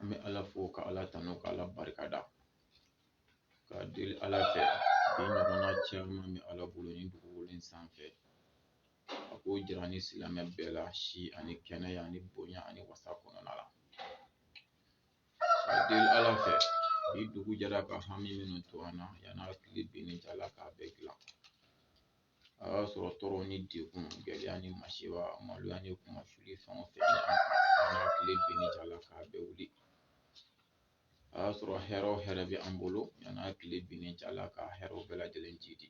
an bɛ ala fo ka ala tanu ka ala barika da ka deli ala fɛ bi ɲɔgɔnna caman bɛ ala bolo ni dugukolo in sanfɛ a k'o jira ni silamɛ bɛɛ la si ani kɛnɛya ani bonya ani wasa kɔnɔna la ka deli ala fɛ bi dugu jɛra ka hami minnu to an na yan'a tile binni cɛ ala k'a bɛɛ dilan a y'a sɔrɔ tɔɔrɔ ni degun gɛlɛya ni masiba maloya ni kunmasuuli fɛn o fɛn yan'a tile binni cɛ ala k'a bɛɛ wuli a y'a sɔrɔ hɛrɛ o hɛrɛ bɛ an bolo yanni a tile binni cɛ ala ka hɛrɛw bɛɛ lajɛlen jiidi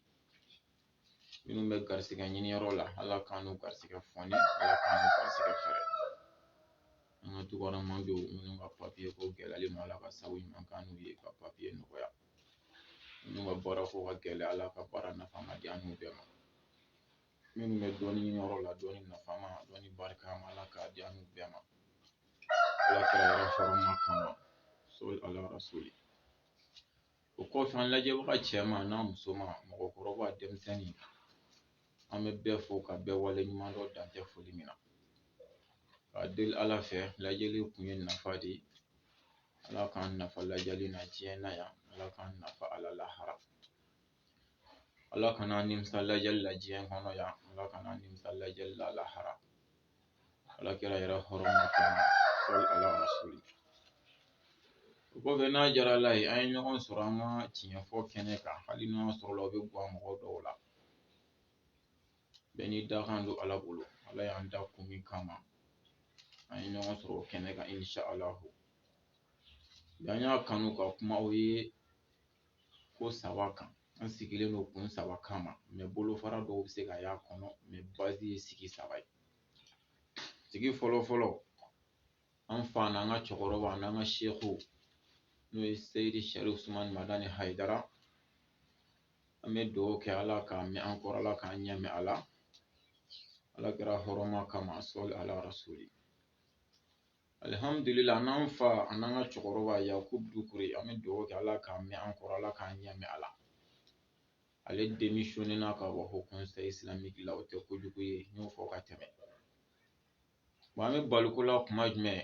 minnu bɛ garisigɛ ɲini yɔrɔ la ala k'an n'u garisigɛ foni ala k'an n'u garisigɛ fɛɛrɛ an ka tukɔnɔma denw minnu ka papiye ko gɛlɛyalen ma ala ka sababu ɲuman k'an n'u ye ka papiye nɔgɔya Minnu ka baara ko ka gɛlɛ Ala ka baara nafama di an n'u bɛɛ ma minnu bɛ dɔnni ɲini yɔrɔ la dɔnni nafama dɔnni barikama Ala k'a di an n'u bɛɛ ma Ala kira yɛrɛ hɔrɔma kama sɔli Ala rasuli o kɔfɛ an lajɛbaga cɛman n'a musoman mɔgɔkɔrɔba denmisɛnnin an bɛ bɛɛ fo ka bɛɛ wale ɲuman dɔn dan tɛ foli min na ka deli Ala fɛ lajɛli kun ye nafa de ye Ala k'an nafa lajali na diɲɛ na yan Ala k'an nafa a la lahara Ala kana an nimisa lajali la diɲɛ kɔnɔ yan Ala kana an nimisa lajali la lahara Ala kira yɛrɛ hɔrɔma kama sɔli Ala rasuli o kɔfɛ n'a jara Ala ye an ye ɲɔgɔn sɔrɔ an ka tiɲɛfɔ kɛnɛ kan hali n'o y'a sɔrɔ la o bɛ gwan mɔgɔ dɔw la bɛɛ n'i dakan don Ala bolo Ala y'an da kun min kama an ye ɲɔgɔn sɔrɔ o kɛnɛ kan inshallahu bi an y'a kanu ka kuma o ye ko saba kan an sigilen don kun saba kama mɛ bolofara dɔw bɛ se ka y'a kɔnɔ mɛ bazi ye sigi saba ye sigi fɔlɔ fɔlɔ an fa n'an ka cɛkɔrɔba n'an ka seku n'o ye seyidi sarifu usumani madani hayidara an bɛ dugawu kɛ ala k'a mɛn an kɔrɔ ala k'an ɲɛ mɛn a la ala kira hɔrɔma kama sɔli ala rasuli alihamdulila n'an fa an'an ka cɛkɔrɔba yakubu dukure an bɛ dugawu kɛ ala k'a mɛn an kɔrɔ ala k'an ɲɛ mɛn a la ale démissionné na ka bɔ Haut Conseil Islamique la o tɛ kojugu ye n y'o fɔ ka tɛmɛ Bon an bɛ baliko la kuma jumɛn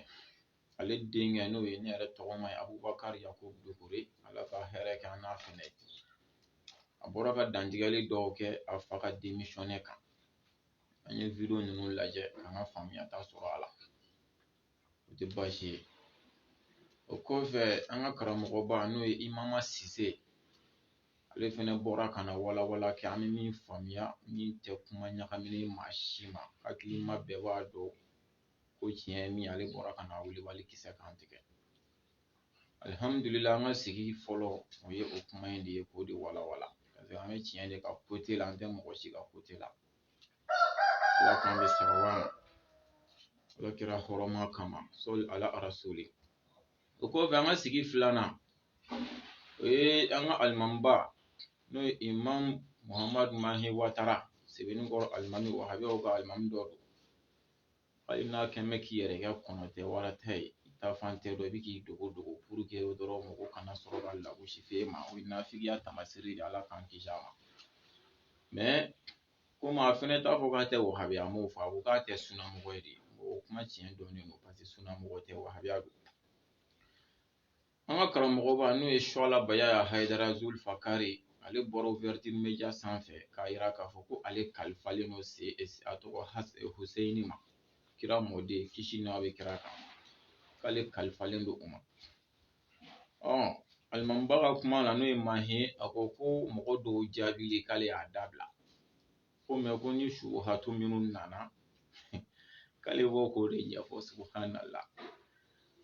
ale denkɛ n'o ye ne yɛrɛ tɔgɔma ye abubakari yakubu dukure ala ka hɛrɛ kɛ an n'a fɛnɛ a bɔra ka dantigɛli dɔw kɛ a fa ka démissionné kan an ye vidéo ninnu lajɛ k'an ka faamuyata sɔrɔ a la o tɛ baasi ye o kɔfɛ an ka karamɔgɔba n'o ye imama sise ale fana bɔra ka na walawala kɛ an bɛ min faamuya min tɛ kuma ɲagaminen maa si ma hakilima bɛɛ b'a dɔn ko tiɲɛ ye min ale bɔra ka na wulibali kisɛ kan tigɛ alihamudulila an ka sigi fɔlɔ o ye o kuma in de ye k'o de walawala parce que an bɛ tiɲɛ de ka côté la an tɛ mɔgɔ si ka côté la ala k'an bɛn sababu ma ala kira hɔrɔma kama sɔli ala rasuli o kɔfɛ an ka sigi filanan o ye an ka alimamiba n'o ye imam muhammadu mahi watara sebenikɔrɔ alimami wahabiyaw ka alimami dɔ don hali n'a kɛn bɛ k'i yɛrɛ kɛ kɔnɔ tɛ wara tɛ ye i ta fan tɛ dɔn i bɛ k'i dogo dogo pour que dɔrɔn mɔgɔ kana sɔrɔ ka lagosi f'e ma o ye nafigiya tamasiri de ye ala k'an kisi a ma Komi a fana t'a fɔ k'a tɛ wahabiya a m'o fɔ a ko k'a tɛ sunamɔgɔ ye de o kuma tiɲɛ dɔnnen don parce que sunamɔgɔ tɛ wahabiya don an ka karamɔgɔba n'o ye suwala bayaya hayidara zulfakari ale bɔra ouverture media sanfɛ k'a yira k'a fɔ ko ale kalifalen don se a tɔgɔ huseyini ma kira mɔden kisi n'a bɛ kira kan k'ale kalifalen don o ma ɔ alimamiba ka kuma la n'o ye mahi a ko ko mɔgɔ dɔw jaabili k'ale y'a dabila ko mais ko ni subuhatu minnu nana k'ale bɛ bɔ k'o de ɲɛfɔ subuhanala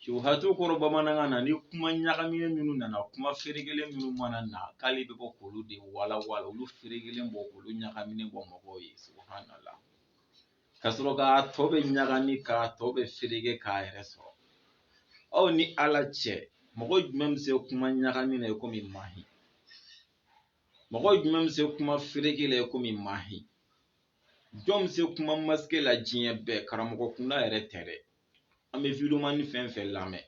subuhatu kɔrɔ bamanankan na ni kuma ɲagaminen minnu nana kuma feregelen minnu mana na k'ale bɛ bɔ k'olu de walawala olu feregelen bɔ k'olu ɲagaminen bɔ mɔgɔw ye subuhanala ka sɔrɔ k'a tɔ bɛɛ ɲagami k'a tɔ bɛɛ ferege k'a yɛrɛ sɔrɔ aw ni ala cɛ mɔgɔ jumɛn bɛ se kuma ɲagami na i komi mahi mɔgɔ jumɛn bɛ se kuma ferege la i komi mahi jɔn bɛ se kuma masquer la diɲɛ bɛɛ karamɔgɔ kunda yɛrɛ tɛ dɛ an bɛ videomani fɛn fɛn lamɛn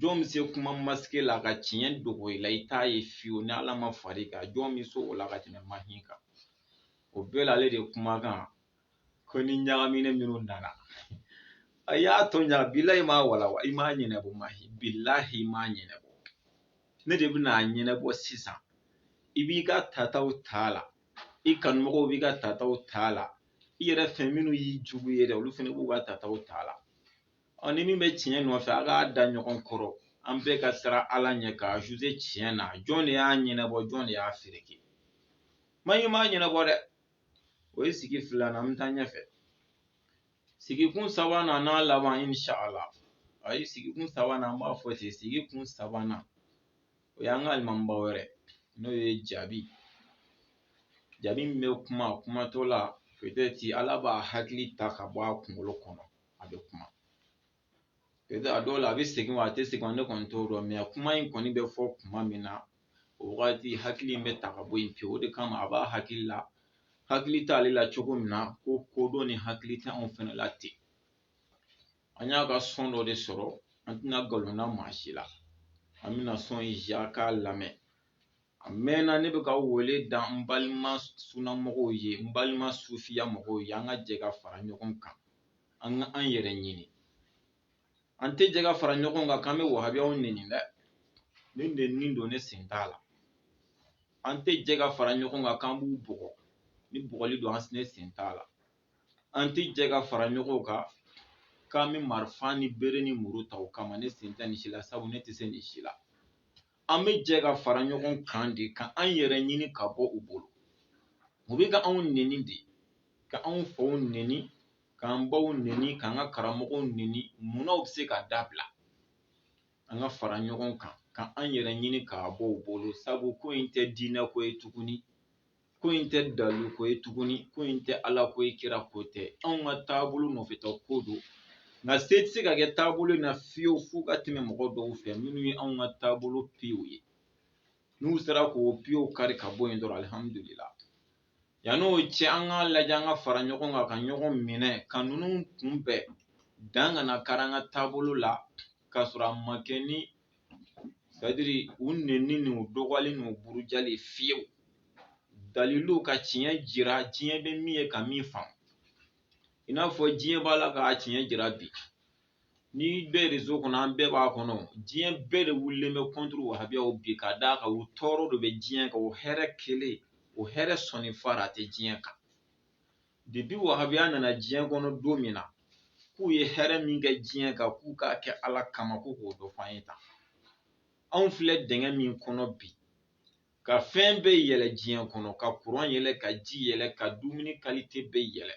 jɔn bɛ se kuma masquer la ka tiɲɛ dogo i la i t'a ye fiyewu ni ala ma far'i kan jɔn bɛ se o la ka tɛmɛ mahi kan o bɛɛ la ale de kumakan ko ni ɲagaminen minnu nana a y'a tɔ ɲa bilahi m'a walawa i m'a ɲɛnɛbɔ mahi bilahi i m'a ɲɛnɛbɔ ne de bɛna a ɲɛnɛbɔ sisan i b'i ka tataw t'a la i kanumɔgɔw b'i ka tataw t'a la i yɛrɛ fɛn minnu y'i jugu ye dɛ olu fana b'u ka tataw t'a la ɔ ni min bɛ tiɲɛ nɔfɛ a k'a da ɲɔgɔn kɔrɔ an bɛɛ ka siran ala ɲɛ k'a juger tiɲɛ na jɔn de y'a ɲɛnɛbɔ jɔn de y'a fereke mahi m'a ɲɛnɛbɔ dɛ o ye sigi filanan an bɛ taa ɲɛfɛ sigikun sabanan n'a laban inshala ayi sigikun sabanan an b'a fɔ ten sigikun sabanan o y'an ka alimamiba wɛrɛ n'o ye jabi jabi min bɛ kuma kumatɔ la peut-être ala b'a hakili ta ka bɔ a kunkolo kɔnɔ a bɛ kuma E a dɔ la a bɛ segin wa a tɛ segin ne kɔni t'o dɔn mɛ a kuma in kɔni bɛ fɔ kuma min na o wagati hakili in bɛ ta ka bɔ yen pewu o de kama a b'a hakili la hakili t'ale la cogo min na ko kodɔn ni hakili tɛ anw fana la ten an y'a ka sɔn dɔ de sɔrɔ an tɛna nkalon da maa si la an bɛna sɔn in jɛ k'a lamɛn a mɛnna ne bɛ ka wele da n balima sunamɔgɔw ye n balima sufiya mɔgɔw ye an ka jɛ ka fara ɲɔgɔn kan an ka an yɛrɛ ɲini an tɛ jɛ ka fara ɲɔgɔn kan k'an bɛ wahabiyaw nɛni dɛ ni nɛnini don ne sen t'a la an tɛ jɛ ka fara ɲɔgɔn kan k'an b'u bugɔ ni bugɔli don an ne sen t'a la an tɛ jɛ ka fara ɲɔgɔn kan k'an bɛ marifa ni bere ni muru ta u kama ne sen tɛ nin si la sabu ne tɛ se nin si la an bɛ jɛ ka fara ɲɔgɔn kan de ka an yɛrɛ ɲini ka bɔ u bolo u bɛ ka anw neni de ka anw faw neni k'an baw neni k'an ka karamɔgɔw neni munna u bɛ se k'a dabila an ka fara ɲɔgɔn kan ka an yɛrɛ ɲini ka bɔ u bolo sabu ko in tɛ diinɛ ko ye tuguni ko in tɛ dalilu ko ye tuguni ko in tɛ ala ko ye kira ko tɛ anw ka taabolo nɔfɛta ko don nka se tɛ se ka kɛ taabolo in na fiyewu f'u ka tɛmɛ mɔgɔ dɔw fɛ minnu ye anw ka taabolo piyew ye n'u sera k'o piyew kari ka bɔ yen dɔrɔn alihamudulila yann'o cɛ an k'a lajɛ an ka fara ɲɔgɔn kan ka ɲɔgɔn minɛ ka ninnu kunbɛn dan kana kari an ka taabolo la k'a sɔrɔ a ma kɛ ni sɛtadiri u nenni ni u dɔgɔyali ni u burujali fiyewu dalilu ka tiɲɛ jira diɲɛ bɛ min ye ka min faamu i n'a fɔ diɲɛ b'a la k'a tiɲɛ jira bi ni bɛɛ rezo kɔnɔ an bɛɛ b'a kɔnɔ diɲɛ bɛɛ de wulilen bɛ kɔnturu wahabiyaw bi ka d'a kan u tɔɔrɔ de bɛ diɲɛ kan u hɛrɛ kelen u hɛrɛ sɔninfara tɛ diɲɛ kan depi wahabiya nana diɲɛ kɔnɔ don min na k'u ye hɛrɛ min kɛ diɲɛ kan k'u k'a kɛ ala kama ko k'o dɔ f'an ye tan anw filɛ dingɛ min kɔnɔ bi ka fɛn bɛɛ yɛlɛ diɲɛ kɔnɔ ka kuran yɛlɛ ka ji yɛlɛ ka dumuni kalite bɛɛ yɛlɛ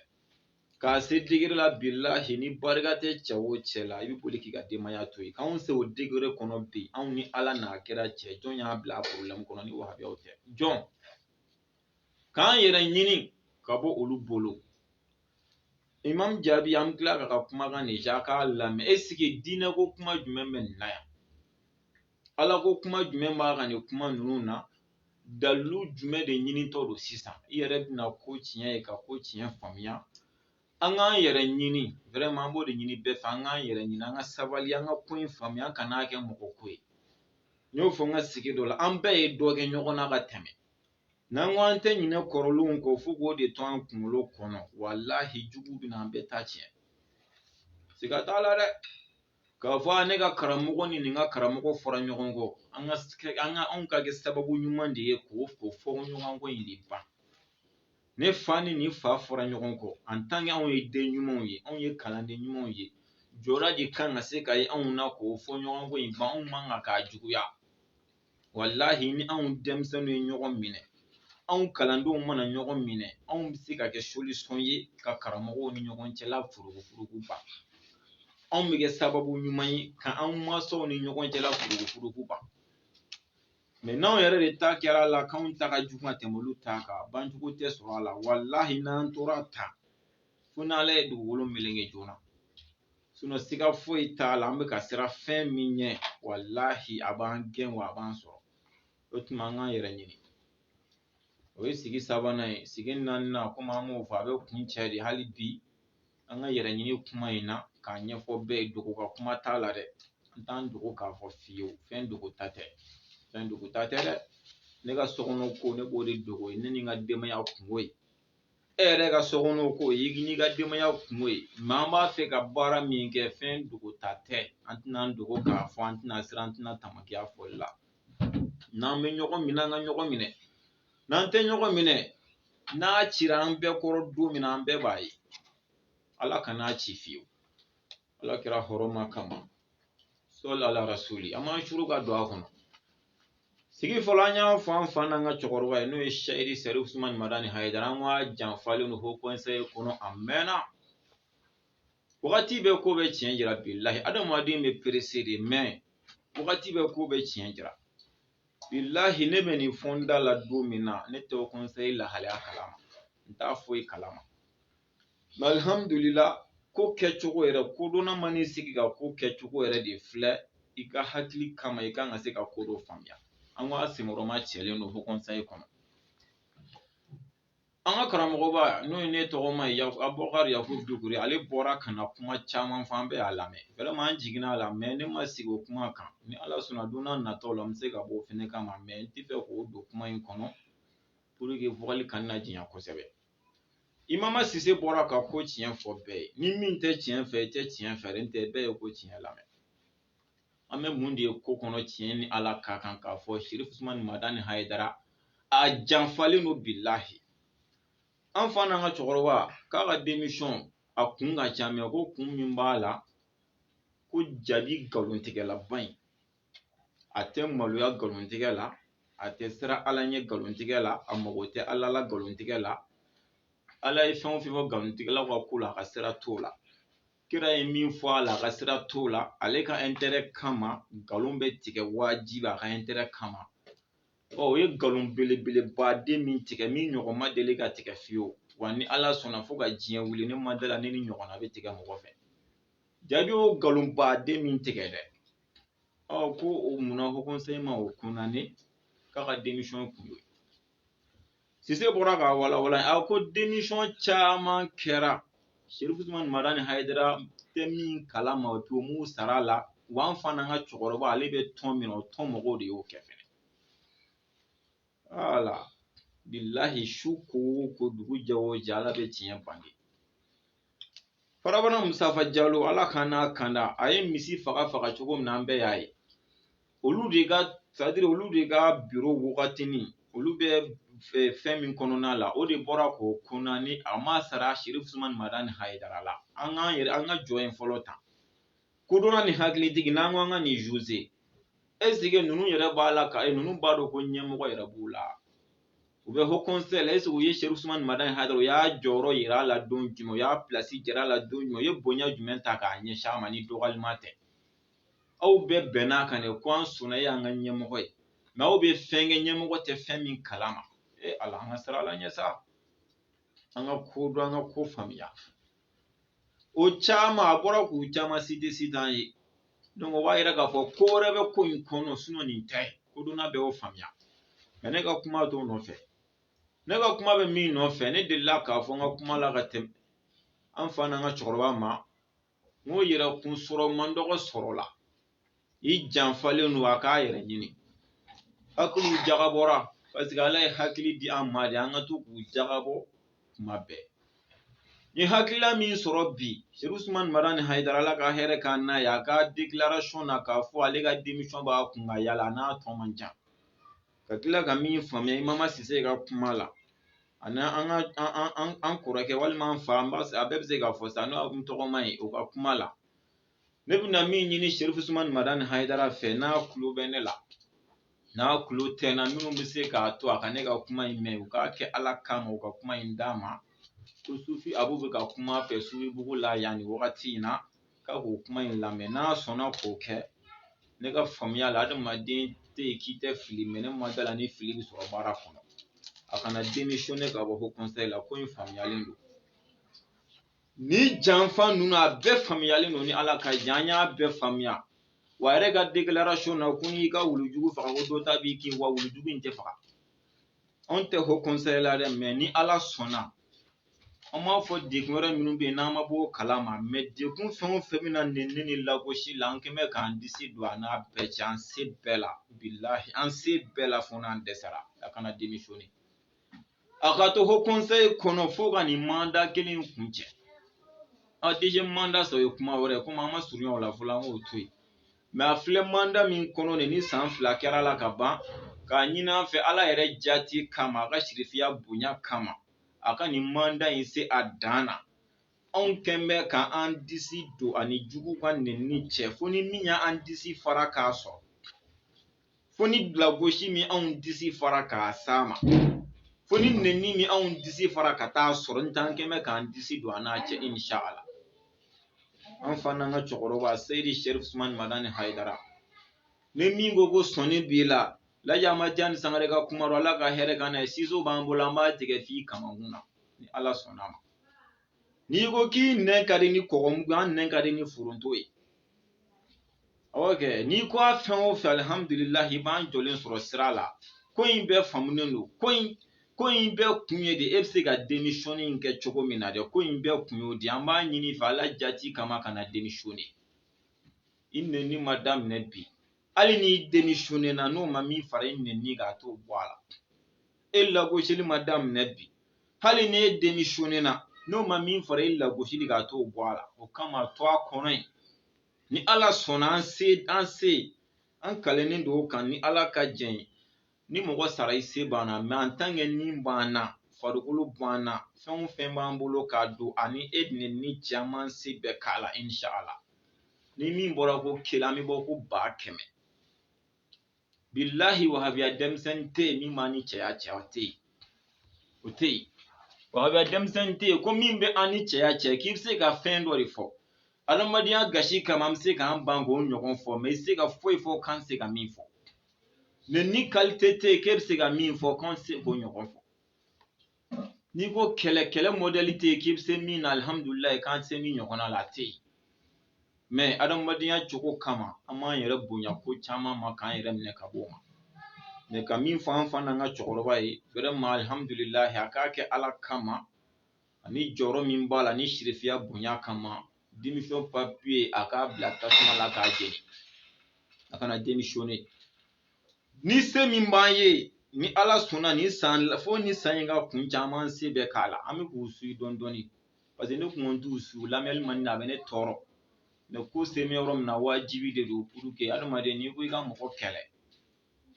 k'a se degere la bilahi ni barika tɛ cɛ o cɛ la i bɛ boli k'i ka denbaya to yen k'anw se o degere kɔnɔ bi anw ni ala n'a kira cɛ jɔn y'an bila a porobilɛmu kɔnɔ ni wahabiyaw tɛ jɔn k'an yɛrɛ ɲini ka bɔ olu bolo imam jabi an bɛ tila k'a ka kumakan de jɛ k'a lamɛn ɛsiki diinɛ ko kuma jumɛn bɛ nin na yan ala ko kuma jumɛn b'a ka nin kuma ninnu na dalilu jumɛn de ɲinitɔ don sisan i yɛrɛ bɛna ko tiɲɛ ye ka ko tiɲɛ faamuya an k'an yɛrɛ ɲini vraiment an b'o de ɲini bɛɛ fɛ an k'an yɛrɛ ɲini an ka sabali an ka ko in faamuya an kan'a kɛ mɔgɔ ko ye n y'o fɔ n ka sigi dɔ la an bɛɛ ye dɔ kɛ ɲɔgɔn na ka tɛmɛ N'an ko an tɛ ɲinɛ kɔrɔlenw kɔ fo k'o de to an kunkolo kɔnɔ walahi jugu bɛna an bɛɛ ta tiɲɛ siga t'a la dɛ k'a fɔ ne ka karamɔgɔ ni nin ka karamɔgɔ fɔra ɲɔgɔn kɔ an ka an ka anw ka kɛ sababu ɲuman de ye k'o o fɔ ɲɔgɔn kɔ in de ban ne fa ni nin fa fɔra ɲɔgɔn kɔ en tant anw ye den ɲumanw ye anw ye kalanden ɲumanw ye jɔyɔrɔ de kan ka se ka ye anw na k'o fɔ ɲɔgɔn kɔ in ban anw man kan k'a juguya walahi ni anw denmisɛnninw ye ɲɔgɔn minɛ anw kalandenw mana ɲɔgɔn minɛ anw bɛ se ka kɛ solution ye ka karamɔgɔw ni ɲɔgɔn cɛla furugufurugu ban anw bɛ kɛ sababu ɲuman ye ka anw mansaw ni ɲɔgɔn cɛla furugufurugu ban mais n'anw yɛrɛ de ta kɛra a la k'anw ta ka jugu ka tɛmɛ olu ta kan banjugu tɛ sɔrɔ a la walahi n'an tora tan fo n'ala ye dugukolo meleke joona sinon siga foyi t'a la an bɛ ka siran fɛn min ɲɛ walahi a b'an gɛn wa a b'an sɔrɔ o tuma an k'an yɛrɛ ɲini o ye sigi sabanan ye sigi naaninan komi an b'o fɔ a bɛ kuncɛ de hali bi an ka yɛrɛ ɲini kuma in na k'a ɲɛfɔ bɛɛ ye dogo ka kuma t'a la dɛ an t'an dogo k'a fɔ fiyewu fɛn dogo ta tɛ fɛn dogo ta tɛ dɛ ne ka sokɔnɔ ko ne b'o de dogo ye ne ni n ka denbaya kunko ye e yɛrɛ ka sokɔnɔ ko i n'i ka denbaya kunko ye mais an b'a fɛ ka baara min kɛ fɛn dogo ta tɛ an tɛna an dogo k'a fɔ an tɛna siran an tɛna tamaki a fɔli la n'an bɛ ɲɔgɔn minɛ an ka ɲɔgɔn minɛ n'an tɛ ɲɔgɔn minɛ n'a cira an bɛɛ kɔrɔ don min na an bɛɛ b'a ye ala kan'a ci fiyewu ala kira hɔrɔma kama sɔli ala rasuli an b'an suru ka don a kɔnɔ sigi fɔlɔ an y'a fɔ an fa n'an ka cɛkɔrɔba ye n'o ye seyidi sɛrifu usumani madani hayidara an k'a janfalen don haut conseil kɔnɔ a mɛnna wagati bɛ ko bɛɛ tiɲɛ jira bilahi adamaden bɛ pressé de mais wagati bɛ ko bɛɛ tiɲɛ jira bilahi ne bɛ nin fɔ n da la don min na ne tɛ haut conseil lahalaya kalama n t'a foyi kalama alihamdulila ko kɛcogo yɛrɛ kodɔnna man'i sigi ka ko kɛcogo yɛrɛ de filɛ i ka hakili kama i kan ka se ka ko dɔ faamuya an ko a senkɔrɔma cɛlen don haut conseil kɔnɔ an ka karamɔgɔba n'o ye ne tɔgɔma ye abubakar yakubu dukure ale bɔra ka na kuma caman fɔ an bɛɛ y'a lamɛn vraiment an jiginna a la mais ne ma sigi o kuma kan ni ala sɔnna don n'a nataw la n bɛ se ka bɔ o fɛnɛ kama mais n tɛ fɛ k'o don kuma in kɔnɔ pour que fɔli kana na janya kosɛbɛ imam sise bɔra ka ko tiɲɛ fɔ bɛɛ ye ni min tɛ tiɲɛ fɛ i tɛ tiɲɛ fɛ n tɛ bɛɛ ye ko tiɲɛ lamɛn an bɛ mun de ye ko kɔnɔ tiɲɛ ni ala ka kan k'a fɔ sɛrifu usumani madani hayidara a janfalen don bilahi an fa n'an ka cɛkɔrɔba k'a ka démission a kun ka ca mais ko kun min b'a la ko jabi nkalontigɛlaba in a tɛ maloya nkalontigɛ la a tɛ siran ala ɲɛ nkalontigɛ la a mago tɛ ala la nkalontigɛ la ala ye fɛn o fɛn fɔ nkalontigɛlaw ka ko la a ka sira t'o la kira ye min fɔ a la a ka sira t'o la ale ka intérêt kama nkalon bɛ tigɛ wajibi a ka intérêt kama ɔ o ye nkalon belebeleba den min tigɛ min ɲɔgɔn ma deli ka tigɛ fiyewu wa ni ala sɔnna fo ka diɲɛ wuli ne ma da la ni nin ɲɔgɔnna bɛ tigɛ mɔgɔ fɛ jaabi o nkalonba den min tigɛ dɛ ɔ ko o munna haut conseil ma o condamner k'a ka démission kun y'o ye sise bɔra k'a walawala a ko démission caman kɛra sherifu usman madani hayidara tɛ min kalama o m'u sara a la wa an fa n'an ka cɛkɔrɔba ale bɛ tɔn min na o tɔn mɔgɔw de y'o kɛ fɛnɛ wala bilahi su ko o ko dugu jɛ o jɛ ala bɛ tiɲɛ bange farabana musafa jalo ala k'an n'a kanda a ye misi faga faga cogo min na an bɛɛ y'a ye olu de ka sadiri olu de ka biro wagatini olu bɛ eh, fɛn min kɔnɔna la o de bɔra k'o condamner a ma sara sherifu usman madani hayidara la an k'an yɛrɛ an ka jɔ yen fɔlɔ tan kodɔnna ni hakilitigi n'an ko an ka nin juger est-ce que ninnu yɛrɛ b'a la ka eh, ninnu b'a dɔn ko ɲɛmɔgɔ yɛrɛ b'u la u bɛ haut conseil la est-ce que u ye sherifu usman madani hayidara u y'a jɔyɔrɔ yira a la don jumɛn u y'a place jira a la don jumɛn u ye bonya jumɛn ta k'a ɲɛsin a ma ni dɔgɔyalima tɛ aw bɛɛ bɛnn'a kan dɛ ko an sɔnna e y'an ka ɲɛmɔgɔ ye mais aw bɛ fɛn kɛ ɲɛmɔgɔ tɛ fɛn min kalama e ala an ka siran ala ɲɛ sa an ka ko dɔn an ka ko faamuya o caman a bɔra k'u caman citer citer an ye donc o b'a yira k'a fɔ ko wɛrɛ bɛ ko in kɔnɔ sinon nin tɛ kodɔnna bɛɛ y'o faamuya mais ne ka kuma t'o nɔfɛ ne ka kuma bɛ min nɔfɛ ne delila k'a fɔ n ka kuma la ka tɛmɛ an fa n'an ka cɛkɔrɔba ma n ko yɛrɛ kun sɔrɔ man dɔgɔ sɔrɔ la i janfalen don a k'a yɛrɛ ɲini hakiliw jagabɔra parce que ala ye hakili di an ma de an ka to k'u jagabɔ kuma bɛɛ ni hakilila min sɔrɔ bi sherifu usman madani hayidara ala ka hɛrɛ k'an n'a ye a ka déclaration na k'a fɔ ale ka démission b'a kun ka yala n'a tɔ man ca ka tila ka min faamuya imama sise ka kuma la ani an ka an kɔrɔkɛ walima an fa an b'a a bɛɛ bɛ se k'a fɔ sa n'o n tɔgɔma ye o ka kuma la ne bɛna min ɲini sherifu usman madani hayidara fɛ n'a kulo bɛ ne la n'a kulo tɛ n na minnu bɛ se k'a to a ka ne ka kuma in mɛn u k'a kɛ ala kama u ka kuma in d'a ma ko sufi abu bɛ ka kuma fɛ sufibugu la yan nin wagati in na k'a k'o kuma in lamɛn n'a sɔnna k'o kɛ ne ka faamuya la adamaden tɛ yen k'i tɛ fili mais ne ma da la ni fili bɛ sɔrɔ baara kɔnɔ a kana démissionner ka bɔ ko la ko in faamuyalen don ni janfa ninnu a bɛɛ faamuyalen don ni ala ka jɛn an y'a bɛɛ faamuya wa a yɛrɛ ka declaration na ko n'i ka wulujugu faga ko dɔ ta b'i kin wa wulujugu in tɛ faga anw tɛ haut conseil la dɛ mɛ ni ala sɔnna an b'a fɔ dekun wɛrɛ minnu bɛ yen n'an ma bɔ o kala ma mɛ dekun fɛn o fɛn bɛna nɛni ni lagosi la an kɛn bɛ k'an disi don a n'a bɛɛ cɛ an se bɛɛ la bilahi an se bɛɛ la fo n'an dɛsɛra a kana démissionner a ka to haut conseil kɔnɔ fo ka nin manda kelen kuncɛ deuxième manda sɔrɔ ye kuma wɛrɛ komi an ma surunya o la fɔlɔ an k'o to yen mɛ a filɛ manda min kɔnɔ nin ni san fila kɛra la ka ban k'a ɲini an fɛ ala yɛrɛ jati kama a ka sirifiya bonya kama a ka nin manda in se a dan na anw kɛn bɛ ka an disi don a ni jugu ka nɛnni cɛ fo ni min y'an disi fara k'a sɔrɔ fo ni lagosi min anw disi fara ka s'a ma fo ni nɛni min anw disi fara ka t'a sɔrɔ n t'an kɛn bɛ k'an disi don a n'a cɛ insha ala an fa n'an ka cɛkɔrɔba seyidi sɛrifu usumani madani hayidara ni min ko ko sɔnin b'i la laji amadu tijani sangare ka kuma don ala ka hɛrɛ k'an n'a ye siso b'an bolo an b'a tigɛ f'i kamakun na ni ala sɔnna ma n'i ko k'i nɛn ka di ni kɔgɔmugu an nɛn ka di ni foronto ye awɔ kɛ n'i ko a fɛn o fɛn alihamdulilahi i b'an jɔlen sɔrɔ sira la ko in bɛɛ faamunen don ko in ko in bɛɛ kun ye de e bɛ se ka démission in kɛ cogo min na dɛ ko in bɛɛ kun y'o di an b'a ɲini i fɛ ala jati kama kana démissionner i nɛni ma daminɛ bi hali n'i démissionner na n'o ma min fara i nɛni kan a t'o bɔ a la e lagosili ma daminɛ bi hali ni e démissionner na n'o ma min fara e lagosili kan a t'o bɔ a la o kama to a kɔnɔ yen ni ala sɔnna an se an se an kalennen don o kan ni ala ka jɛn ye ni mɔgɔ sara i se banna mɛ en tant que ni b'an na farikolo b'an na fɛn o fɛn b'an bolo k'a don ani e nɛnni cɛ an b'an se bɛɛ k'a la insha ala ni min bɔra ko kelen an bɛ bɔ ko ba kɛmɛ bilahi wahabiya denmisɛnnin tɛ yen min b'an ni cɛya cɛ o tɛ yen o tɛ yen wahabiya denmisɛnnin tɛ yen ko min bɛ an ni cɛya cɛ k'i bɛ se ka fɛn dɔ de fɔ adamadenya gasi kama an bɛ se k'an ban k'o ɲɔgɔn fɔ mɛ i se ka foyi fɔ k'an se ka min fɔ nɛnni kalite tɛ yen k'e bɛ se ka min fɔ k'an se k'o ɲɔgɔn fɔ n'i ko kɛlɛ kɛlɛ mɔdɛli tɛ yen k'i bɛ se min na alihamudulilayi k'an tɛ se min ɲɔgɔnna la a tɛ yen mɛ adamadenya cogo kama an b'an yɛrɛ bonya ko caman ma k'an yɛrɛ minɛ ka bɔ o ma mɛ ka min fɔ an fa n'an ka cɛkɔrɔba ye vraiment alihamudulilayi a k'a kɛ ala kama ani jɔyɔrɔ min b'a la ni sirifiya bonya kama démission papiye a k'a bila tasuma la k'a jeni a kana démissionner ni se min b'an ye ni ala sɔnna ni san fo ni san in ka kun caman se bɛɛ k'a la an bɛ k'u suivi dɔɔni dɔɔni parce que ne kun t'u suivi lamɛnni man di a bɛ ne tɔɔrɔ mais ko se bɛ yɔrɔ min na wajibi de don pour que adamaden n'i ko i ka mɔgɔ kɛlɛ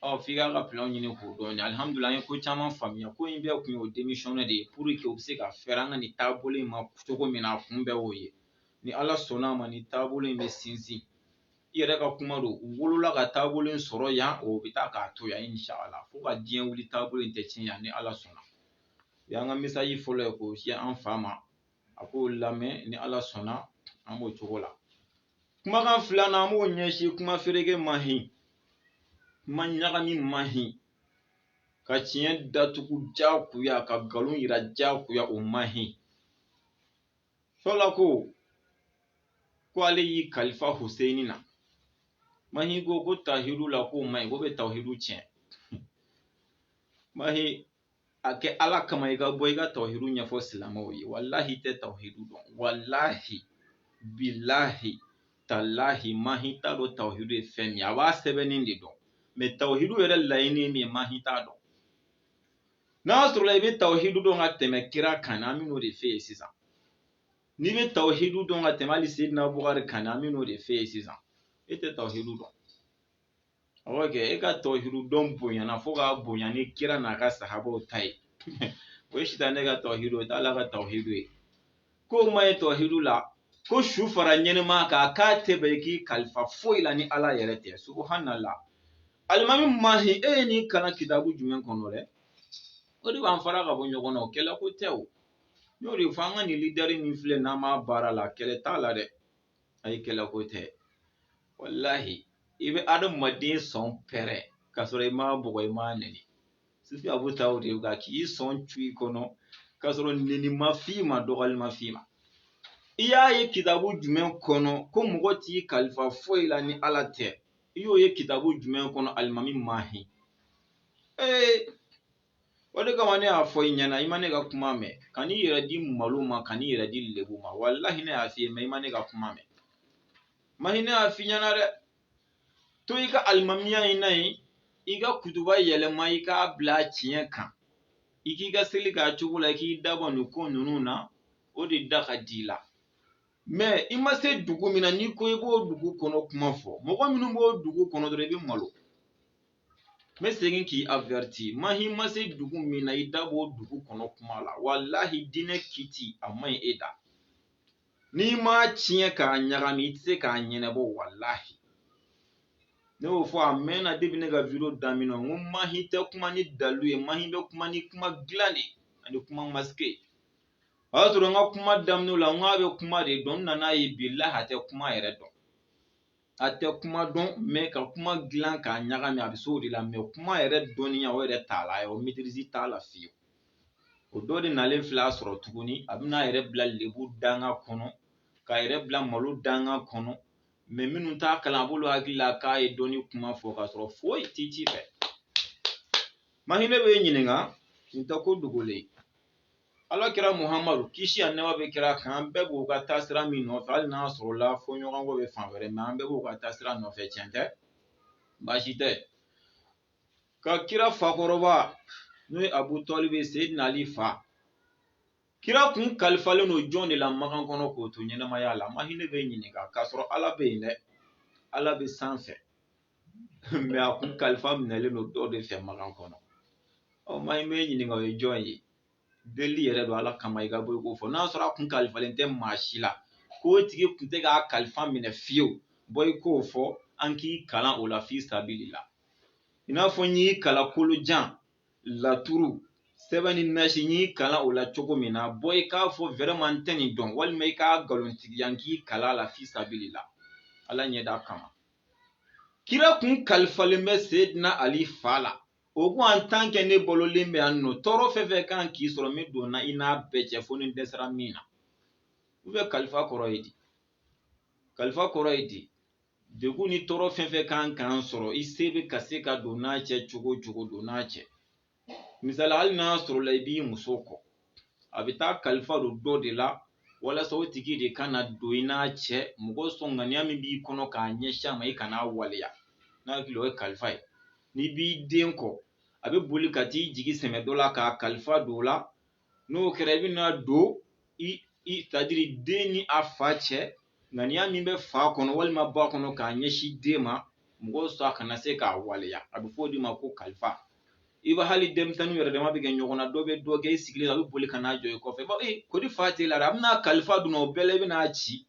ɔ f'i k'a ka plan ɲini k'o dɔn ni alihamudulila an ye ko caman faamuya ko in bɛɛ kun ye o démissionner de ye pour que u bɛ se ka fɛɛrɛ an ka nin taabolo in ma cogo min na a kun bɛɛ y'o ye ni ala sɔnna a ma nin taabolo in bɛ sinsin i yɛrɛ ka kuma don u wolola ka taabolo in sɔrɔ yan o bɛ taa k'a to yan inshala fo ka diɲɛ wuli taabolo in tɛ tiɲɛ yan ni ala sɔnna o y'an ka message fɔlɔ ye k'o se an fa ma a k'o lamɛn ni ala sɔnna an b'o cogo la kumakan filanan an b'o ɲɛsin kuma fereke mahi kuma ɲagami mahi ka tiɲɛ datugu jagoya ka nkalon yira jagoya o mahi fɔlɔ ko ko ale y'i kalifa Huseyini na mahi ko ko tawhidu la k'o man ɲi ko bɛ tawhidu tiɲɛ mahi a kɛ ala kama i ka bɔ i ka tawhidu ɲɛfɔ silamɛw ye walahi i tɛ tawhidu dɔn walahi bilahi talahi mahi t'a dɔn tawhidu ye fɛn min a b'a sɛbɛnni de dɔn mais tawhidu yɛrɛ laɲini ye min ye mahi t'a dɔn n'a sɔrɔla i bɛ tawhidu dɔn ka tɛmɛ kira kan an bɛn'o de f'e ye sisan n'i bɛ tawhidu dɔn ka tɛmɛ hali Seydina Bukari kan an bɛn'o de f'e ye sisan e tɛ tawhidu dɔn awɔ kɛ e ka tawhidu dɔn bonyana fo k'a bonya ni kira n'a ka sahabaw ta ye o ye sitanɛ ka tawhidu ye o t'ala ka tawhidu ye k'o man ɲi tawhidu la ko su fara ɲɛnɛma kan k'a tɛ bɛn i k'i kalifa foyi la ni ala yɛrɛ tɛ subuhanala alimami mahi e ye nin kalan kitabu jumɛn kɔnɔ dɛ o de b'an fara ka bɔ ɲɔgɔn na o kɛlɛ ko tɛ o n y'o de fɔ an ka nin lideri min filɛ n'an b'a baara la kɛlɛ t'a la dɛ ayi kɛlɛ ko tɛ walahi i bɛ adamaden sɔn pɛrɛ k'a sɔrɔ i m'a bugɔ i m'a nɛni Sufi Abu ta o de ye ka k'i sɔn cu i kɔnɔ k'a sɔrɔ nɛni ma f'i ma dɔgɔyali ma f'i ma i y'a ye kitabu jumɛn kɔnɔ ko mɔgɔ t'i kalifa foyi la ni ala tɛ i y'o ye kitabu jumɛn kɔnɔ alimami mahi ee o de kama ne y'a fɔ i ɲɛna i ma ne ka kuma mɛn ka n'i yɛrɛ di malo ma ka n'i yɛrɛ di lebu ma walahi ne y'a f'i ye mais i ma ne ka kuma mɛn mahi ne y'a f'i ɲɛna dɛ to i ka alimamiya in na yen i ka kutuba yɛlɛma i k'a bila tiɲɛ kan i k'i ka seli k'a cogo la i k'i dabɔ nin ko ninnu na o de da ka di i la mais i ma se dugu min na n'i ko i b'o dugu kɔnɔ kuma fɔ mɔgɔ minnu b'o dugu kɔnɔ dɔrɔn i bɛ malo n bɛ segin k'i averti mahi i ma se dugu min na i da b'o dugu kɔnɔ kuma la walahi diinɛ kiti a man ɲi e da n'i ma tiɲɛ k'a ɲagami i tɛ se k'a ɲɛnabɔ walahi ne y'o fɔ a mɛnna depuis ne ka video daminɛ n ko mahi tɛ kuma ni dalu ye mahi bɛ kuma ni kuma dilan de ani kuma masqué o y'a sɔrɔ n ka kuma daminɛ la n k'a bɛ kuma de dɔn n nana ye billahi a tɛ kuma yɛrɛ dɔn a tɛ kuma dɔn mɛ ka kuma dilan k'a ɲagami a bɛ se o de la mɛ kuma yɛrɛ dɔnniya o yɛrɛ t'a la a ye o maîtrise t'a la fiyewu o dɔ de nalen filɛ a sɔrɔ tuguni a bɛna a yɛrɛ bila lebu danga kɔnɔ k'a yɛrɛ bila malo danga kɔnɔ mɛ minnu t'a kalan a b'olu hakili la k'a ye dɔnni kuma fɔ k'a sɔrɔ foyi t'i ci fɛ mahi ne b'i ɲininka nin tɛ ko dogolen ala kira muhamadu kisi ani nɛɛma bɛ kira kan an bɛɛ b'o ka taasira min nɔfɛ hali n'a sɔrɔla fɔɲɔgɔnkɔ bɛ fan wɛrɛ mɛ an bɛɛ b'o ka taasira nɔfɛ tiɲɛ tɛ baasi tɛ ka kira fakɔrɔba n'o ye abu tɔlibi seyidina ali fa kira kun kalifalen don jɔn de la makan kɔnɔ k'o to ɲɛnamaya la mahi ne b'i ɲininka k'a sɔrɔ ala bɛ yen dɛ ala bɛ sanfɛ mɛ a kun kalifa minɛlen don dɔ de fɛ makan kɔnɔ mahi n b'i ɲininka o ye jɔn ye deli yɛrɛ don ala kama i ka bɔ i k'o fɔ n'a sɔrɔ a kun kalifalen tɛ maa si la k'o tigi kun tɛ k'a kalifa minɛ fiyewu bɔ i k'o fɔ an k'i kalan o la fi sabili la i n'a fɔ n y'i kalan kolojan laturu sɛbɛn ni nasi n y'i kalan o la cogo min na bɔ i k'a fɔ vraiment n tɛ nin dɔn walima i k'a nkalontigiya n k'i kalan a la fi sabili la ala ɲɛda kama kira kun kalifalen bɛ seyidina ali fa la o ko en tant que ne balolen bɛ yan nɔ tɔɔrɔ fɛn fɛn kan k'i sɔrɔ n bɛ don na i n'a bɛɛ cɛ fo ni n dɛsɛra min na ou bien kalifa kɔrɔ ye di kalifa kɔrɔ ye di degun ni tɔɔrɔ fɛn fɛn kan k'an sɔrɔ i se bɛ ka se ka don n'a cɛ cogo cogo don n'a cɛ misali hali n'a sɔrɔla i b'i muso kɔ a bɛ taa kalifa don dɔ de la walasa o tigi de ka na don i n'a cɛ mɔgɔ sɔn ŋaniya min b'i kɔnɔ k'a ɲɛsin a ma i kan'a waleya n hakili o ye kalifa ye n'i b'i den kɔ a bɛ boli ka t'i jigi sɛmɛ dɔ la k'a kalifa don o la n'o kɛra i bɛna don c'est-à-dire den ni a fa cɛ ŋaniya min bɛ fa kɔnɔ walima ba kɔnɔ k'a ɲɛsin den ma mɔgɔ sɔn a kana se k'a waleya a bɛ fɔ o de ma ko kalifa i b'a hali denmisɛnninw yɛrɛ dama bɛ kɛ ɲɔgɔn na dɔ bɛ dɔ gɛn i sigilen a bɛ boli ka n'a jɔ i kɔfɛ ba ee kori fa t'e la a bɛna kalifa don o bɛɛ la i bɛna ci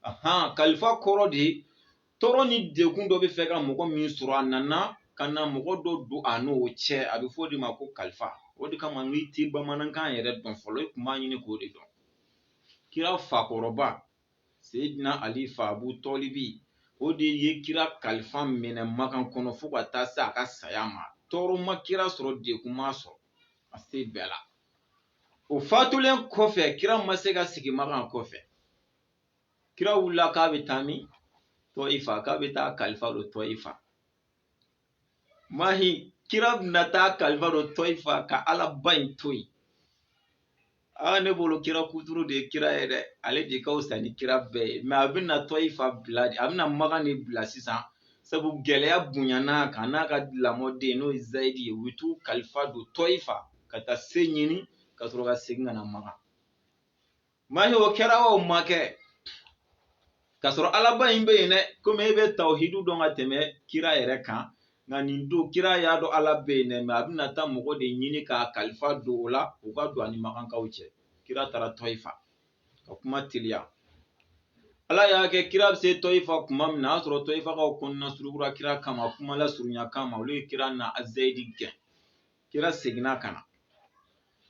ahan kalifa kɔrɔ de ye tɔɔrɔ ni degun dɔ bɛ fɛ ka mɔgɔ min sɔrɔ a nana ka na mɔgɔ dɔ don a n'o cɛ a bɛ fɔ o de ma ko kalifa o de kama n'i tɛ bamanankan yɛrɛ dɔn fɔlɔ i tun b'a ɲini k'o de dɔn kira fakɔrɔba seyidina ali fa abu tɔlibi o de ye kira kalifa minɛ makan kɔnɔ fo ka taa se a ka saya ma tɔɔrɔ ma kira sɔrɔ degun m'a sɔrɔ a se bɛɛ la o fatulen kɔfɛ kira ma se ka sigi makan kɔfɛ kira wulila k'a bɛ taa min tɔyifa k'a bɛ taa kalifa don tɔyifa mahi kira bɛna taa kalifa don tɔyifa ka alaba in to yen aa ne bolo kira kuturu de ye kira ye dɛ ale de ka fisa ni kira bɛɛ ye mɛ a bɛna tɔyifa bila a bɛna makan de bila sisan sabu gɛlɛya bonyana a kan n'a ka lamɔden n'o ye zayidi ye u bɛ t'u kalifa don tɔyifa ka taa se ɲini ka sɔrɔ ka segin ka na makan mahi o kɛra o ma kɛ k'a sɔrɔ alaba in bɛ yen dɛ komi e bɛ tawuhidu dɔn ka tɛmɛ kira yɛrɛ kan nka nin don kira y'a dɔn ala bɛ yen dɛ mɛ a bɛna taa mɔgɔ de ɲini k'a kalifa don o la u ka don ani makankaw cɛ kira taara tɔyifa ka kuma teliya ala y'a kɛ kira bɛ se tɔyifa kuma min na a y'a sɔrɔ tɔyifakaw kɔnɔna surukura kira kama kuma lasurunya kama olu ye kira n'a zayidi gɛn kira seginna ka na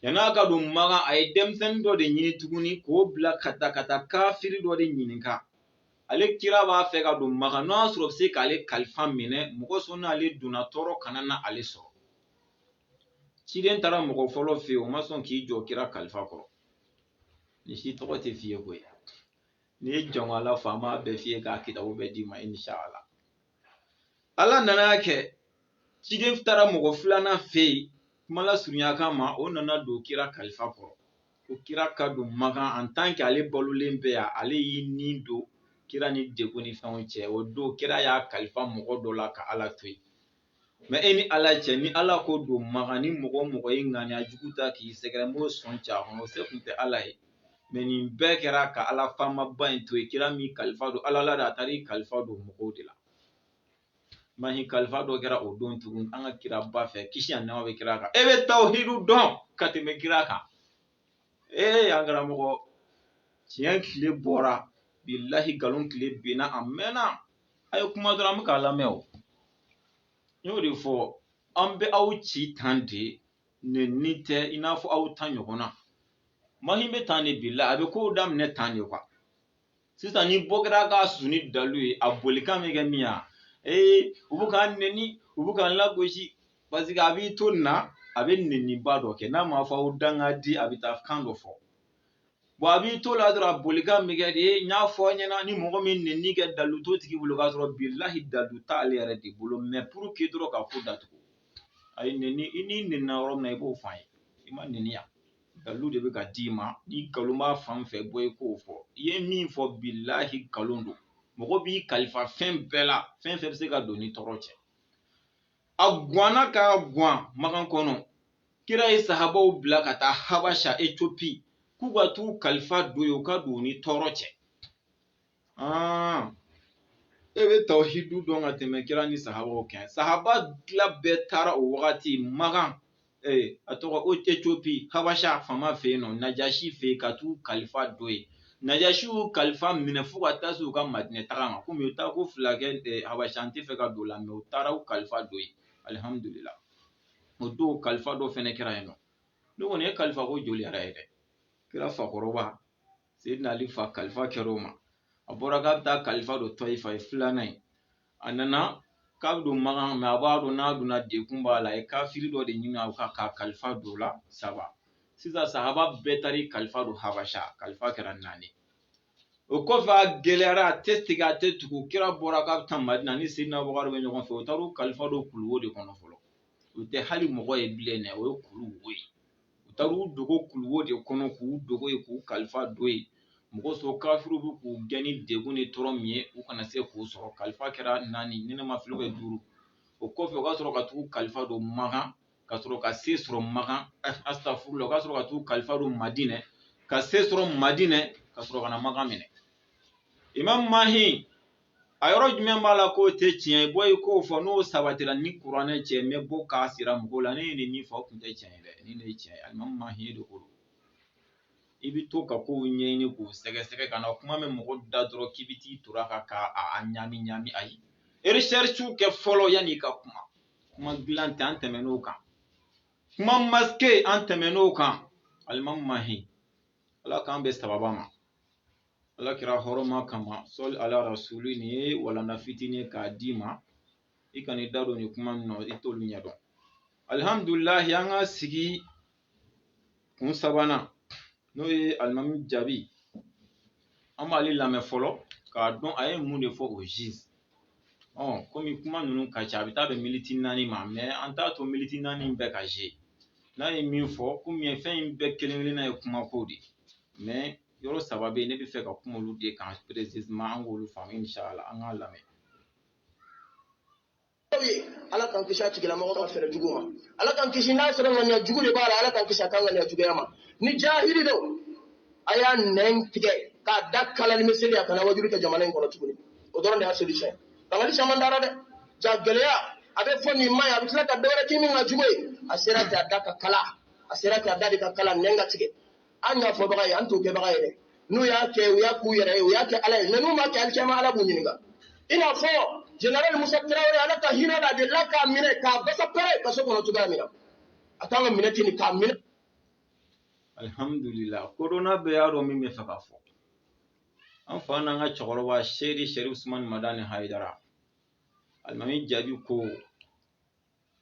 yanni a ka don makan a ye denmisɛnnin dɔ de ɲini tuguni k'o bila ka taa ka taa kafiri dɔ de ɲininka ale kira b'a fɛ ka don makan n'o y'a sɔrɔ bɛ se k'ale kalifa minɛ mɔgɔ sɔn n'ale donna tɔɔrɔ kana na ale sɔrɔ ciden taara mɔgɔ fɔlɔ fɛ yen o ma sɔn k'i jɔ kira kalifa kɔrɔ nin si tɔgɔ tɛ f'i ye koyi n'i ye jama lafa an b'a bɛɛ f'i ye k'a kitabu bɛɛ d'i ma inshala ala nana y'a kɛ ciden taara mɔgɔ filanan fɛ yen kuma lasurunya kama o nana don kira kalifa kɔrɔ ko kira ka don makan an tan kɛ ale balolen bɛ yan ale y'i ni don kira ni degun ni fɛnw cɛ o don kira y'a kalifa mɔgɔ dɔ la ka ala to yen mɛ e ni ala cɛ ni ala ko don makan ni mɔgɔ o mɔgɔ ye ŋaniya jugu ta k'i sɛgɛrɛ n b'o sɔn ci a kɔnɔ o se tun tɛ ala ye mɛ nin bɛɛ kɛra ka ala faamaba in to yen kira m'i kalifa don ala la de a taara i kalifa don mɔgɔw de la mahi kalifa dɔ kɛra o don tugun an ka kiraba fɛ kisi ani nɛɛma bɛ kira kan e bɛ tawuhidu dɔn ka tɛmɛ kira kan ee an karamɔgɔ tiɲɛ tile bɔra bilahi nkalon tile binna a mɛnna a ye kuma dɔrɔn an bɛ k'a lamɛn o n y'o de fɔ an bɛ aw ci tan de nɛni tɛ i n'a fɔ aw ta ɲɔgɔn na mahi bɛ tan de bila a bɛ kow daminɛ tan de kuwa sisan ni bɔ kɛra ka suni dalu ye a bolikan bɛ kɛ min ye ee u bɛ k'an nɛni u bɛ k'an lagosi paseke a b'i to nin na a bɛ nɛniba dɔ kɛ n'a ma fɔ aw dangaden a bɛ taa kan dɔ fɔ bɔn a b'i to la dɔrɔn a bolikan bɛ kɛ de ye n y'a fɔ aw ɲɛna ni mɔgɔ min nɛni kɛ dalu t'o tigi bolo k'a sɔrɔ bilahi dalu t'ale yɛrɛ de bolo mais pour que dɔrɔn ka ko datugu a y'i nɛni i n'i nɛnina yɔrɔ min na i b'o fɔ an ye i ma nɛni yan dalu de bɛ ka d'i ma ni nkalon b'a fan fɛ bɔ i k'o fɔ i ye min fɔ bilahi nkalon don mɔgɔ b'i kalifa fɛn bɛɛ la fɛn fɛn bɛ se ka don ni tɔɔrɔ cɛ a gwanna ka gwan makan kɔnɔ kira ye sahabaw bila ka taa habasha etiopi k'u ka t'u kalifa don yen u ka don u ni tɔɔrɔ cɛ e bɛ tawhidu dɔn ka tɛmɛ kira ni sahabaw kan sahaba tila bɛɛ taara o wagati makan ee a tɔgɔ o etiopi habasha fama fɛ yen nɔ najashi fɛ yen ka t'u kalifa don yen najashi y'u kalifa minɛ fo ka taa se u ka madinɛ taga ma komi u taa ko fila kɛ eh, habasha an tɛ fɛ ka don o la mais u taara u kalifa don yen alihamudulila o don kalifa dɔ fɛnɛ kɛra yen nɔ ne kɔni ye kalifa ko joli yɛrɛ ye dɛ kira fakɔrɔba seydina ali fa kalifa kɛra o ma a bɔra k'a bɛ taa kalifa don tɔyifa ye filanan ye a nana k'a bɛ don makan mais a b'a dɔn n'a donna degun b'a la a ye kafiri dɔ de ɲini k'a ka kalifa don o la saba sisan sahaba bɛɛ taar'i kalifa don habasha kalifa kɛra naani o kɔfɛ a gɛlɛyara a tɛ tigɛ a tɛ tugu kira bɔra k'a bɛ taa madina ni seydina abubakar bɛ ɲɔgɔn fɛ u taar'u kalifa don kuluwo de kɔnɔ fɔlɔ o tɛ hali mɔgɔ ye bilen dɛ o ye kuluwo ye u taara u dogo kuluwo de kɔnɔ k'u dogo yen k'u kalifa don yen mɔgɔ sɔrɔ kafiriw bɛ k'u gɛn ni degun ni tɔɔrɔ min ye u kana se k'u sɔrɔ kalifa kɛra naani ni ne ma fili o bɛ duuru o kɔfɛ u ka sɔrɔ ka tag'u kalifa don makan ka sɔrɔ ka se sɔrɔ makan astafurula u ka sɔrɔ ka tag'u kalifa don madinɛ ka se sɔrɔ madinɛ ka sɔrɔ ka na makan minɛ imam mahi a yɔrɔ jumɛn b'a la k'o tɛ tiɲɛ ye bɔ i k'o fɔ n'o sabatira ni kuranɛ cɛ n bɛ bɔ k'a jira mɔgɔw la ne ye nin min fɔ o tun tɛ tiɲɛ ye dɛ nin de ye tiɲɛ ye alimami mahi de ko i bɛ to ka kow ɲɛɲini k'u sɛgɛsɛgɛ kana kuma mɛn mɔgɔ da dɔrɔn k'i bɛ t'i tora ka ka a ɲami ɲami ayi recherchew kɛ fɔlɔ yanni i ka kuma kuma dilan tɛ an tɛmɛn'o kan kuma masqué an tɛmɛn'o kan alimami mahi ala k'an bɛn sababu ma ala kira hɔrɔma kama sɔli ala rasuli nin ye walanda fitinin ye k'a d'i ma i kana i da don nin kuma min na i t'olu ɲɛdɔn alihamdulilahi an ka sigi kun sabanan n'o ye alimami jaabi an b'ale lamɛn fɔlɔ k'a dɔn a ye mun de fɔ o ziz kɔmi kuma ninnu ka ca a bɛ taa bɛn militi naani ma mais an t'a to militi naani bɛɛ ka ze n'a ye min fɔ komi fɛn in bɛɛ kelen kelenna ye kumako de ye yɔrɔ saba bɛ yen ne bɛ fɛ ka kuma olu de kan précisément an k'olu faamu insala an k'a lamɛn ala k'an kisi a tigilamɔgɔ ka fɛɛrɛ jugu ma ala k'an kisi n'a sɔrɔ ŋaniya jugu de b'a la ala k'an kisi a ka ŋaniya juguya ma ni jahili don a y'a nɛn tigɛ k'a da kala ni miseli a kana wajulu kɛ jamana in kɔnɔ tuguni o dɔrɔn de y'a solution ye bangali caman dara dɛ ja gɛlɛya a bɛ fɔ nin man ɲi a bɛ tila ka dɔ wɛrɛ kɛ min ka jugu ye a sera k'a da ka kala a sera k'a da de ka kala nɛn ka tigɛ an y'a fɔbaga ye an t'o kɛbaga ye dɛ n'u y'a kɛ u y'a k'u yɛrɛ ye u y'a kɛ ala ye mɛ n'u m'a kɛ alikiyama ala b'u ɲininka i n'a fɔ jenerali musa tarawele ala ka hinɛ la de la k'a minɛ k'a basa pɛrɛ kaso kɔnɔ cogoya min na a kan ka minɛ ten k'a minɛ alhamdulillah korona bɛɛ y'a dɔn min bɛ fɛ ka fɔ an fa n'an ka cɛkɔrɔba seyidi serifu usumani madani hayidara alimami jabi ko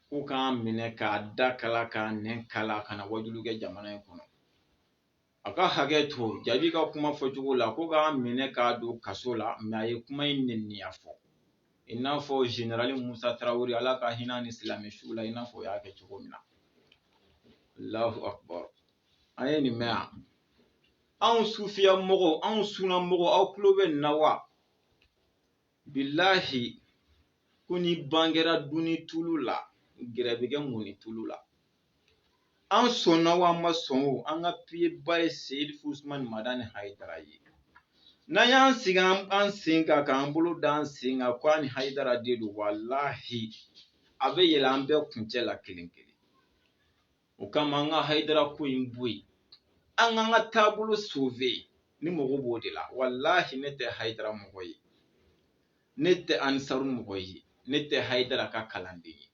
k'u k'a minɛ k'a da kala k'a nɛn kala kana wajulu kɛ jamana in kɔnɔ a ka hakɛ to jabi ka kuma fɔcogo la ko k'a minɛ k'a don kaso la mɛ a ye kuma in neniya fɔ i n'a fɔ zenerali musa tarawele ala ka hinɛ ni silamɛ su la i n'a fɔ u y'a kɛ cogo min na allahu akbar an ye nin mɛn yan anw sufiya mɔgɔw anw sunna mɔgɔw aw tulo bɛ nin na wa bilahi ko ni ban kɛra dunni tulu la gɛrɛ bɛ kɛ munni tulu la an sɔnna o an ma sɔn o an ka piyeba ye serifu usumani madani hayidara ye n'an y'an sigi an sen kan k'an bolo da an sen kan ko a ni hayidara de don walahi a bɛ yɛlɛ an bɛɛ kuncɛ la kelen kelen o kama an ka hayidara ko in bɔ yen an k'an ka taabolo sove ne mago b'o de la walahi ne tɛ hayidara mɔgɔ ye ne tɛ ansaru mɔgɔ ye ne tɛ hayidara ka kalanden ye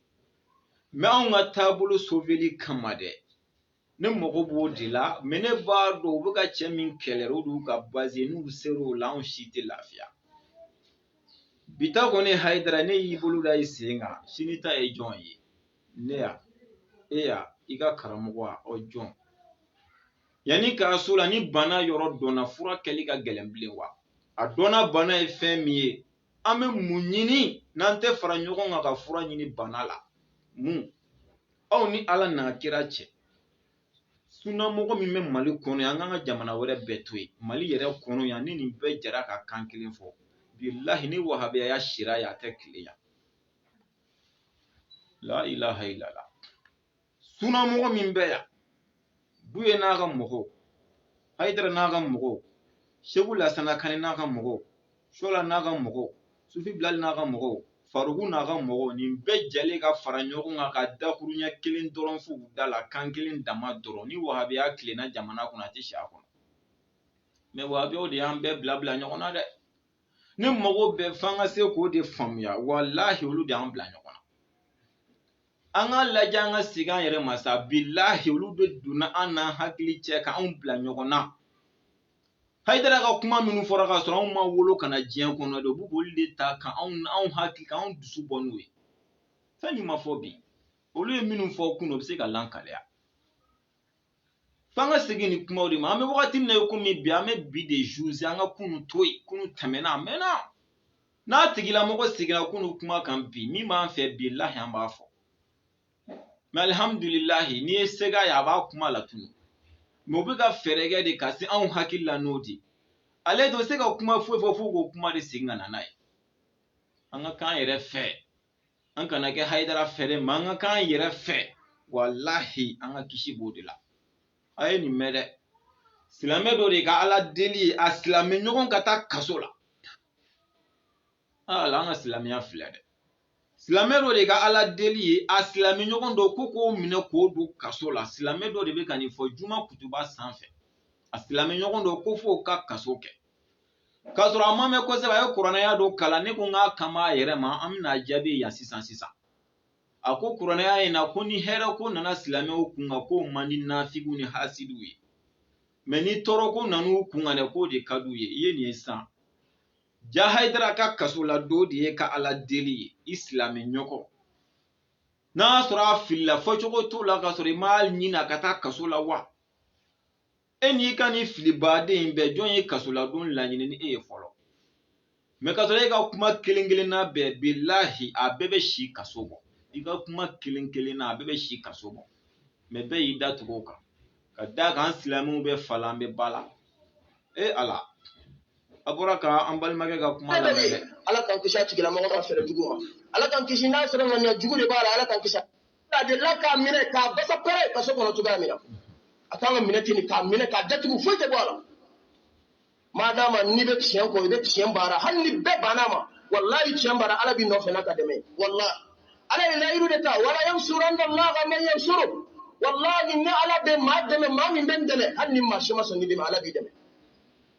mɛ anw ka taabolo soveli kama dɛ ne mago b'o de la mɛ ne b'a dɔn u bɛ ka cɛ min kɛlɛ o d'u ka baze n'u ser'o la anw si tɛ lafiya bi ta kɔni hayidara n'e y'i bolo da i sen kan sini ta ye jɔn ye ne ya e ya i ka karamɔgɔ a ɔ jɔn yanni k'a so la ni bana yɔrɔ dɔnna fura kɛli ka gɛlɛn bilen wa a dɔnna bana ye fɛn min ye an bɛ mun ɲini n'an tɛ fara ɲɔgɔn kan ka fura ɲini bana la mun aw ni ala n'a kira cɛ sunnamɔgɔ min bɛ mali kɔnɔ yan an k'an ka jamana wɛrɛ bɛɛ to yen mali yɛrɛ kɔnɔ yan ni nin bɛɛ jɛra ka kan kelen fɔ bilahi ni wahabiya sira yan a tɛ tile yan la ilaha illallah suna mɔgɔ min bɛ yan buye n'a ka mɔgɔw hayidara n'a ka mɔgɔw segu lasana kanɛ n'a ka mɔgɔw shola n'a ka mɔgɔw sufi bilali n'a ka mɔgɔw farugu n'a ka mɔgɔw nin bɛɛ jɛlen ka fara ɲɔgɔn kan ka dakurunya kelen dɔrɔn f'u da la kan kelen dama dɔrɔn ni wahabiya tilenna jamana kɔnɔ a tɛ si a kɔnɔ mɛ wahabiyaw de y'an bɛɛ bila bila ɲɔgɔn na dɛ ne mago bɛ f'an ka se k'o de faamuya walahi olu de y'an bila ɲɔgɔn na an k'a lajɛ an ka segin an yɛrɛ ma sa bilahi olu de donna an n'an hakili cɛ k'anw bila ɲɔgɔn na hayidara ka kuma minnu fɔra k'a sɔrɔ anw ma wolo ka na diɲɛ kɔnɔ dɛ u b'u b'olu de ta ka anw anw hakili ka anw dusu bɔ n'o ye fɛn min ma fɔ bi olu ye minnu fɔ kunu o bɛ se ka lankaliya f'an ka segin nin kumaw de ma an bɛ wagati min na i komi bi an bɛ bi de zuze an ka kunu to yen kunu tɛmɛna a mɛnna n'a tigilamɔgɔ seginna kunu kuma kan bi min b'an fɛ bilahi an b'a fɔ mɛ alihamudulilahi n'i ye sega ye a b'a kuma la tunu mɛ u bɛ ka fɛɛrɛ kɛ de ka se anw hakili la n'o tɛ ale tɛ se ka kuma foyi fɔ fo k'o kuma de segin ka na n'a ye an ka k'an yɛrɛ fɛ an kana kɛ hayidara fɛ dɛ mɛ an ka k'an yɛrɛ fɛ walahi an ka kisi b'o de la a ye nin mɛn dɛ silamɛ dɔ de ka ala deli ye a silamɛ ɲɔgɔn ka taa kaso la ala an ka silamɛya filɛ dɛ silamɛ dɔ de ka ala deli ye a silamɛ ɲɔgɔn dɔ ko k'o minɛ k'o don kaso la silamɛ dɔ de bɛ ka nin fɔ juma kutuba sanfɛ a silamɛ ɲɔgɔn dɔ ko f'o ka kaso kɛ k'a sɔrɔ a ma mɛn kosɛbɛ a ye kuranɛ aya dɔ kalan ne ko n k'a kama a yɛrɛ ma an bɛna a jaabi yan sisan sisan a ko kuranɛ aya in na ko ni hɛrɛ ko nana silamɛw kun kan k'o man di nafigiw ni hasidiw ye mɛ ni tɔɔrɔ ko nan'u kun kan dɛ k'o de ka d'u ye i ye nin ye sisan jaa hayidara ka kasoladon de y'i ka ala deli ye i silamɛ ɲɔgɔn n'a sɔrɔ a filila fɔcogo t'o la k'a sɔrɔ i m'a ɲini a ka taa kaso la wa e n'i ka nin fili baden in bɛɛ jɔn ye kasoladon laɲini ni e ye fɔlɔ mɛ ka sɔrɔ e ka kuma kelen kelenna bɛɛ bilahi a bɛɛ bɛ si kaso bɔ i ka kuma kelen kelenna a bɛɛ bɛ si kaso bɔ mɛ bɛɛ y'i da tugu o kan ka d'a kan an silamɛw bɛ fa la an bɛ ba la e ala a bɔra ka an balimakɛ ka kuma lamɛn dɛ ala k'an kisi a tigilamɔgɔ ka fɛɛrɛ jugu ma ala k'an kisi n'a sɔrɔ ŋaniya jugu de b'a la ala k'an kisi a delila k'a minɛ k'a basa pɛrɛ kaso kɔnɔ cogoya min na a kan ka minɛ ten k'a minɛ k'a datugu foyi tɛ bɔ a la madama n'i bɛ tiɲɛ kɔ i bɛ tiɲɛ baara hali ni bɛɛ banna ma walayi tiɲɛ baara ala b'i nɔfɛ n'a ka dɛmɛ walayi ala ye layiru de ta wala yansuranna laha man yansuru walayi ne ala bɛ maa dɛmɛ maa min bɛ n dɛmɛ hali ni maa si ma sɔn k'i dɛmɛ ala b'i dɛmɛ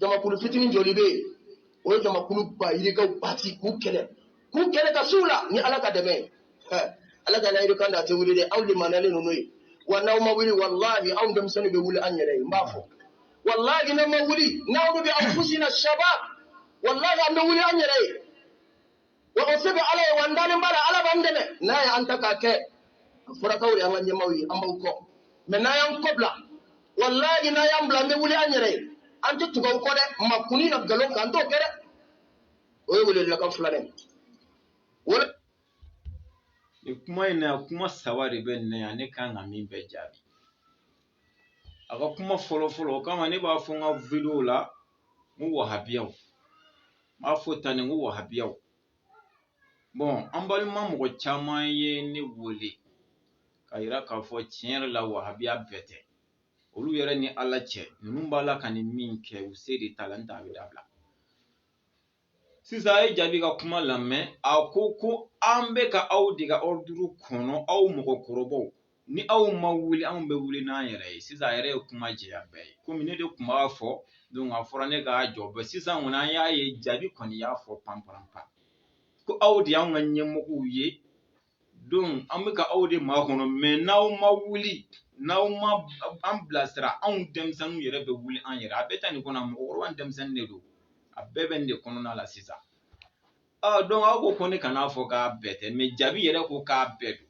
jamakulu fitinin joli bɛ yen o ye jamakulu ba yirikaw bati k'u kɛlɛ k'u kɛlɛ ka s'u la ni ala ka dɛmɛ ye ala ka layidu kan da a tɛ wuli dɛ aw de manalen ninnu ye wa n'aw ma wuli walahi anw denmisɛnninw bɛ wuli an yɛrɛ ye n b'a fɔ walahi n'aw ma wuli n'aw bɛ anfusina shabab walahi an bɛ wuli an yɛrɛ ye wa o se bɛ ala ye wa an dalen b'a la ala b'an dɛmɛ n'a ye an ta k'a kɛ a fɔra k'aw de an ka ɲɛmaaw ye an b'aw kɔ mɛ n'a y'an kɔ bila walayi n'a y'an bila an bɛ wuli an yɛrɛ ye an tɛ tugu aw kɔ dɛ makunni na nkalon kan an t'o kɛ dɛ o ye welewelekan filanan ye wele nin kuma in na kuma saba de bɛ nin na yan ne kan ka min bɛɛ jaabi a ka kuma fɔlɔ fɔlɔ o kama ne b'a fɔ n ka videow la n ko wahabiyaw n b'a fɔ tan de n ko wahabiyaw bɔn an balima mɔgɔ caman ye ne wele k'a yira k'a fɔ tiɲɛ yɛrɛ la wahabiya bɛɛ tɛ olu yɛrɛ ni ala cɛ ninnu b'a la ka nin min kɛ u sen de t'a la n t'a bɛɛ dabila sisan a ye jaabi ka kuma lamɛn a ko ko an bɛ ka aw de ka ɔriduru kɔnɔ aw mɔgɔkɔrɔbaw ni aw ma wuli anw bɛ wuli n'an yɛrɛ ye sisan a yɛrɛ ye kuma jɛya bɛɛ ye komi ne de tun b'a fɔ donc a fɔra ne k'a jɔ bɛɛ sisan kɔni an y'a ye jaabi kɔni y'a fɔ panparanpan ko aw de y'anw ka ɲɛmɔgɔw ye donc an bɛ ka aw de makɔnɔ mɛ n'aw ma wuli n'aw ma an bilasira anw denmisɛnninw yɛrɛ bɛ wuli an yɛrɛ a bɛ taa nin kɔnɔ mɔgɔkɔrɔba denmisɛnnin de don a bɛɛ bɛ nin de kɔnɔna la sisan donc aw ko ko ne kan'a fɔ k'a bɛɛ tɛ mɛ jaabi yɛrɛ ko k'a bɛɛ don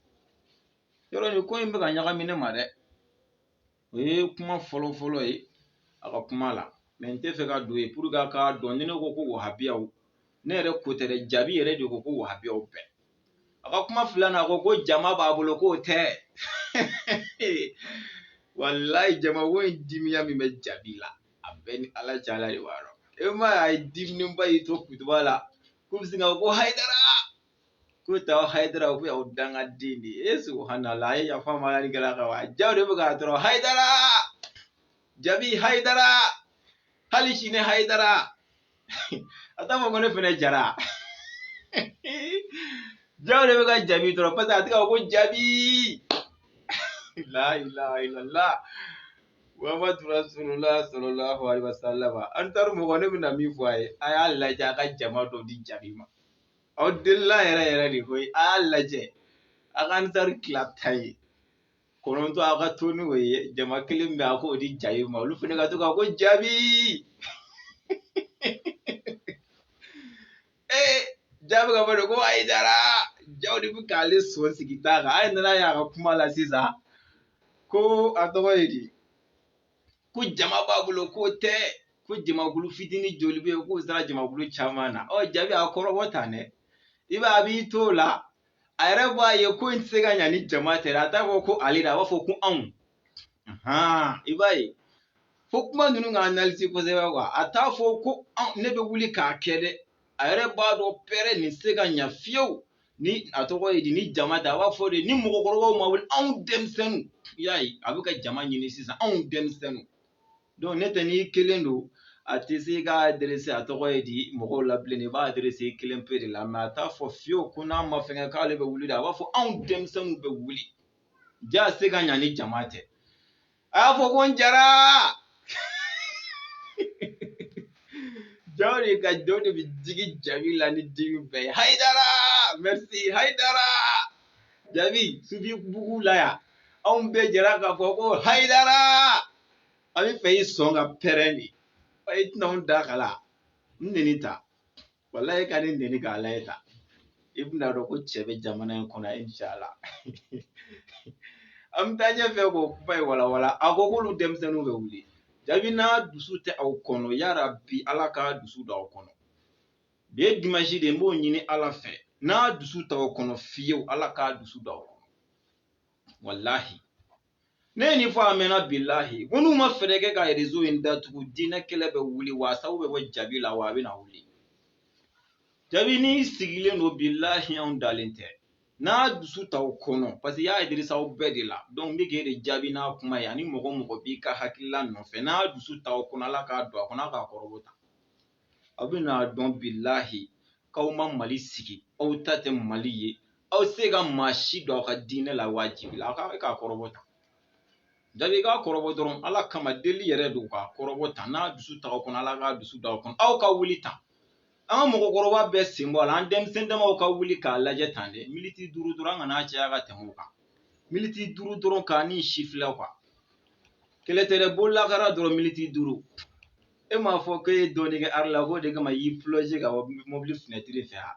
yɔrɔ nin ko in bɛ ka ɲagami ne ma dɛ o ye kuma fɔlɔ fɔlɔ ye a ka kuma la mɛ n tɛ fɛ ka don yen pour que a k'a dɔn ni ne ko ko wahabiyaw ne yɛrɛ ko tɛ dɛ jaabi yɛrɛ de ko ko wahabiyaw bɛɛ a ka kuma filanan a ko ko jama b'a bolo k'o tɛ walayi jama ko in dimiya min bɛ jaabi la a bɛɛ ni ala cɛ ala de b'a dɔn e m'a ye a ye diminenba y'i to kutuba la ko bɛ sin ka ko hayidara ko taa hayidara ko y'aw dangaden de ye e subhanallah a ye yafa a ma ala ni kira kama jaa o de bɛ k'a tɔɔrɔ hayidara jabi hayidara hali sini hayidara a t'a fɔ ko ne fɛnɛ jara jaa o de bɛ ka jabi tɔɔrɔ paseke a tɛ ka fɔ ko jabi la ilaha illallah Muhammad Rasulullah sallallahu alaihi wasallam ansaru mɔgɔ ne bɛna min fɔ a ye a y'a lajɛ a ka jama dɔ di jabi ma aw delila yɛrɛ yɛrɛ de koyi a y'a lajɛ a ka ansaru tila tan ye kɔnɔntɔn aw ka to ni o ye jama kelen bɛ a k'o di jaabi ma olu fana ka to ka ko jaabi ee jaabi ka fɔ de ko hayidara jaa o de bɛ k'ale sɔn sigi ta kan a ye nana y'a ka kuma la sisan ko a tɔgɔ ye di ko jama b'a bolo k'o tɛ ko jamakulu fitinin joli bɛ yen k'o sera jamakulu caman na ɔ jabi a kɔrɔbɔ tan dɛ i b'a a b'i t'o la a yɛrɛ b'a ye ko in tɛ se ka ɲa ni jama tɛ dɛ a t'a fɔ ko ale dɛ a b'a fɔ ko anw i b'a ye fo kuma ninnu ka analyse kosɛbɛ quoi a t'a fɔ ko ne bɛ wuli k'a kɛ dɛ a yɛrɛ b'a dɔn pɛrɛ nin se ka ɲa fiyewu ni a tɔgɔ ye di ni jama tɛ a b'a fɔ de ni mɔgɔkɔrɔbaw ma wuli anw denmisɛnninw i y'a ye a bɛ ka jama ɲini sisan anw denmisɛnninw donc ne tɛ n'i kelen don a tɛ se ka adresse a tɔgɔ ye di mɔgɔw la bilen i b'a adresse i kelen pe de la mais a t'a fɔ fiyewu ko n'a ma fɛnkɛ k'ale bɛ wuli de a b'a fɔ anw denmisɛnninw bɛ wuli jaa se ka ɲa ni jama tɛ a y'a fɔ ko n jara jaw de ka jaw de bɛ digi jabi la ni dimi bɛɛ ye hayidara merci hayidara jabi sufi bugu la yan anw bɛɛ jɛra k'a fɔ ko hayidara an b'i fɛ i sɔn ka pɛrɛn de i tɛna anw da kala n neni tan walahi ka ne neni k'a lajɛ tan i bɛna dɔn ko cɛ bɛ jamana in kɔnɔ inshala an bɛ taa ɲɛfɛ k'o kuma in walawala a ko k'olu denmisɛnninw bɛ wuli jabi n'a dusu tɛ aw kɔnɔ yarabi ala k'a dusu don aw kɔnɔ bi ye dimansi de n b'o ɲini ala fɛ n'a dusu t'aw kɔnɔ fiyewu ala k'a dusu don aw kɔnɔ walahi ne ye nin fɔ a mɛnna bilahi ko n'u ma fɛɛrɛ kɛ ka rezo in datugu diinɛ kɛlɛ bɛ wuli wa a sabu bɛ bɔ jabi la wa a bɛna wuli jabi n'i sigilen don bilahi anw dalen tɛ n'a dusu t'aw kɔnɔ parce que i y'a adresse aw bɛɛ de la donc ne k'e de jaabi n'a kuma ye ani mɔgɔ o mɔgɔ b'i ka hakilila nɔfɛ n'a dusu t'aw kɔnɔ ala k'a don a kɔnɔ a k'a kɔrɔbɔ tan aw bɛna dɔn bilahi k'aw ma mali sigi aw ta tɛ mali ye aw se ka maa si don aw ka diinɛ la wajibi la aw k'a kɔrɔbɔ tan jabi i k'a kɔrɔbɔ dɔrɔn ala kama deli yɛrɛ don k'a kɔrɔbɔ tan n'a dusu t'aw kɔnɔ ala k'a dusu don aw kɔnɔ aw ka wuli tan an ka mɔgɔkɔrɔba bɛɛ sen bɔ a la an denmisɛn damaw ka wuli k'a lajɛ tan dɛ militi duuru dɔrɔn an kana caya ka tɛmɛ o kan militi duuru dɔrɔn ka nin sifilɛ quoi kɛlɛ tɛ dɛ bololakara dɔrɔn militi duuru e m'a fɔ ko e ye dɔɔnin kɛ ari la k'o de kama y'i plonze ka bɔ mobili finɛtiri fɛ a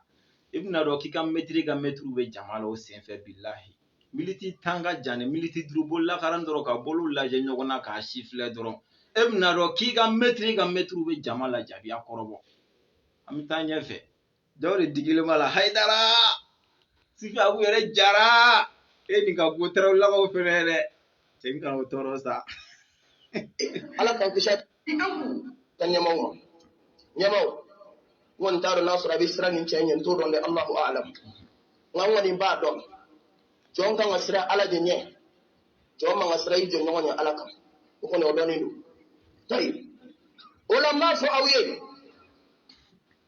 i bɛna dɔn k'i ka mɛtiri ka mɛtiriw bɛ jama la o senfɛ bilahi militi tan ka jan ni militi duuru bolo lakaran dɔrɔn ka bolo lajɛ ɲɔgɔn na k'a sifilɛ dɔrɔn e bɛna dɔn k'i ka mɛtiri ka mɛtiriw bɛ jama la jabi a kɔrɔbɔ an bɛ taa ɲɛfɛ jaw de digilen b'a la hayidara sifi abu yɛrɛ jara e nin ka go tɛrɛw lakaw fɛnɛ ye dɛ cɛ n kana o tɔɔrɔ sa ala k'an kisi a ka ɲɛmaw ma ɲɛmaw n kɔni t'a dɔn n'a sɔrɔ a bɛ siran nin cɛ ɲɛ n t'o dɔn dɛ alahu alam nka n kɔni b'a dɔn jɔn kan ka siran ala de ɲɛ jɔn man ka siran i jɔɲɔgɔn ɲɛ ala kan o kɔni o dɔnnen don tayi o la n b'a fɔ aw ye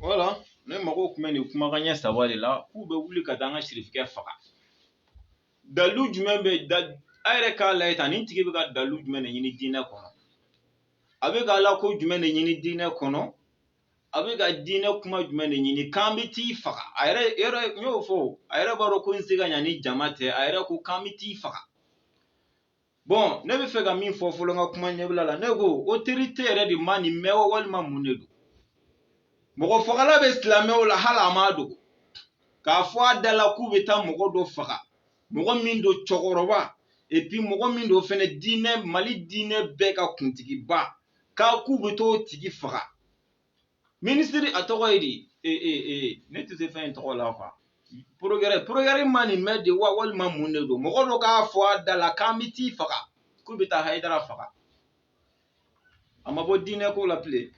wala ne mago kun bɛ nin kuma kanɲɛ saba de la k'u bɛ wuli ka taa an ka sirifkɛ faga dalilu jumɛn bɛ da a yɛrɛ k'a layɛ tan nin tigi bɛ ka dalilu jumɛn de ɲini diinɛ kɔnɔ a bɛ ka ala ko jumɛn de ɲini diinɛ kɔnɔ a bɛ ka diinɛ kuma jumɛn de ɲini k'an bɛ t'i faga a yɛrɛ yɛrɛ y'o fɔ a yɛrɛ b'a dɔn ko n se ka ɲa ni jama tɛ a yɛrɛ ko k'an bɛ t'i faga bɔn ne bɛ fɛ ka min fɔ fɔlɔ n ka kuma ɲɛbila la ne ko otorite yɛrɛ de ma nin mɛn wa walima mun de don mɔgɔ fagala bɛ silamɛw la hali a ma dogo k'a fɔ a da la k'u bɛ taa mɔgɔ dɔ faga mɔgɔ min don cɛkɔrɔba epi mɔgɔ min don fɛnɛ diinɛ mali diinɛ bɛɛ ka kuntigiba k'a k'u bɛ t'o tigi faga minisiri a tɔgɔ ye di e, e, e, ne tɛ se fɛn in tɔgɔ la kuwa porokirɛri porokirɛri ma nin mɛn de wa walima mun de don mɔgɔ dɔ k'a fɔ a da la k'an bɛ t'i faga k'u bɛ taa hayidara faga a ma bɔ diinɛ ko la bilen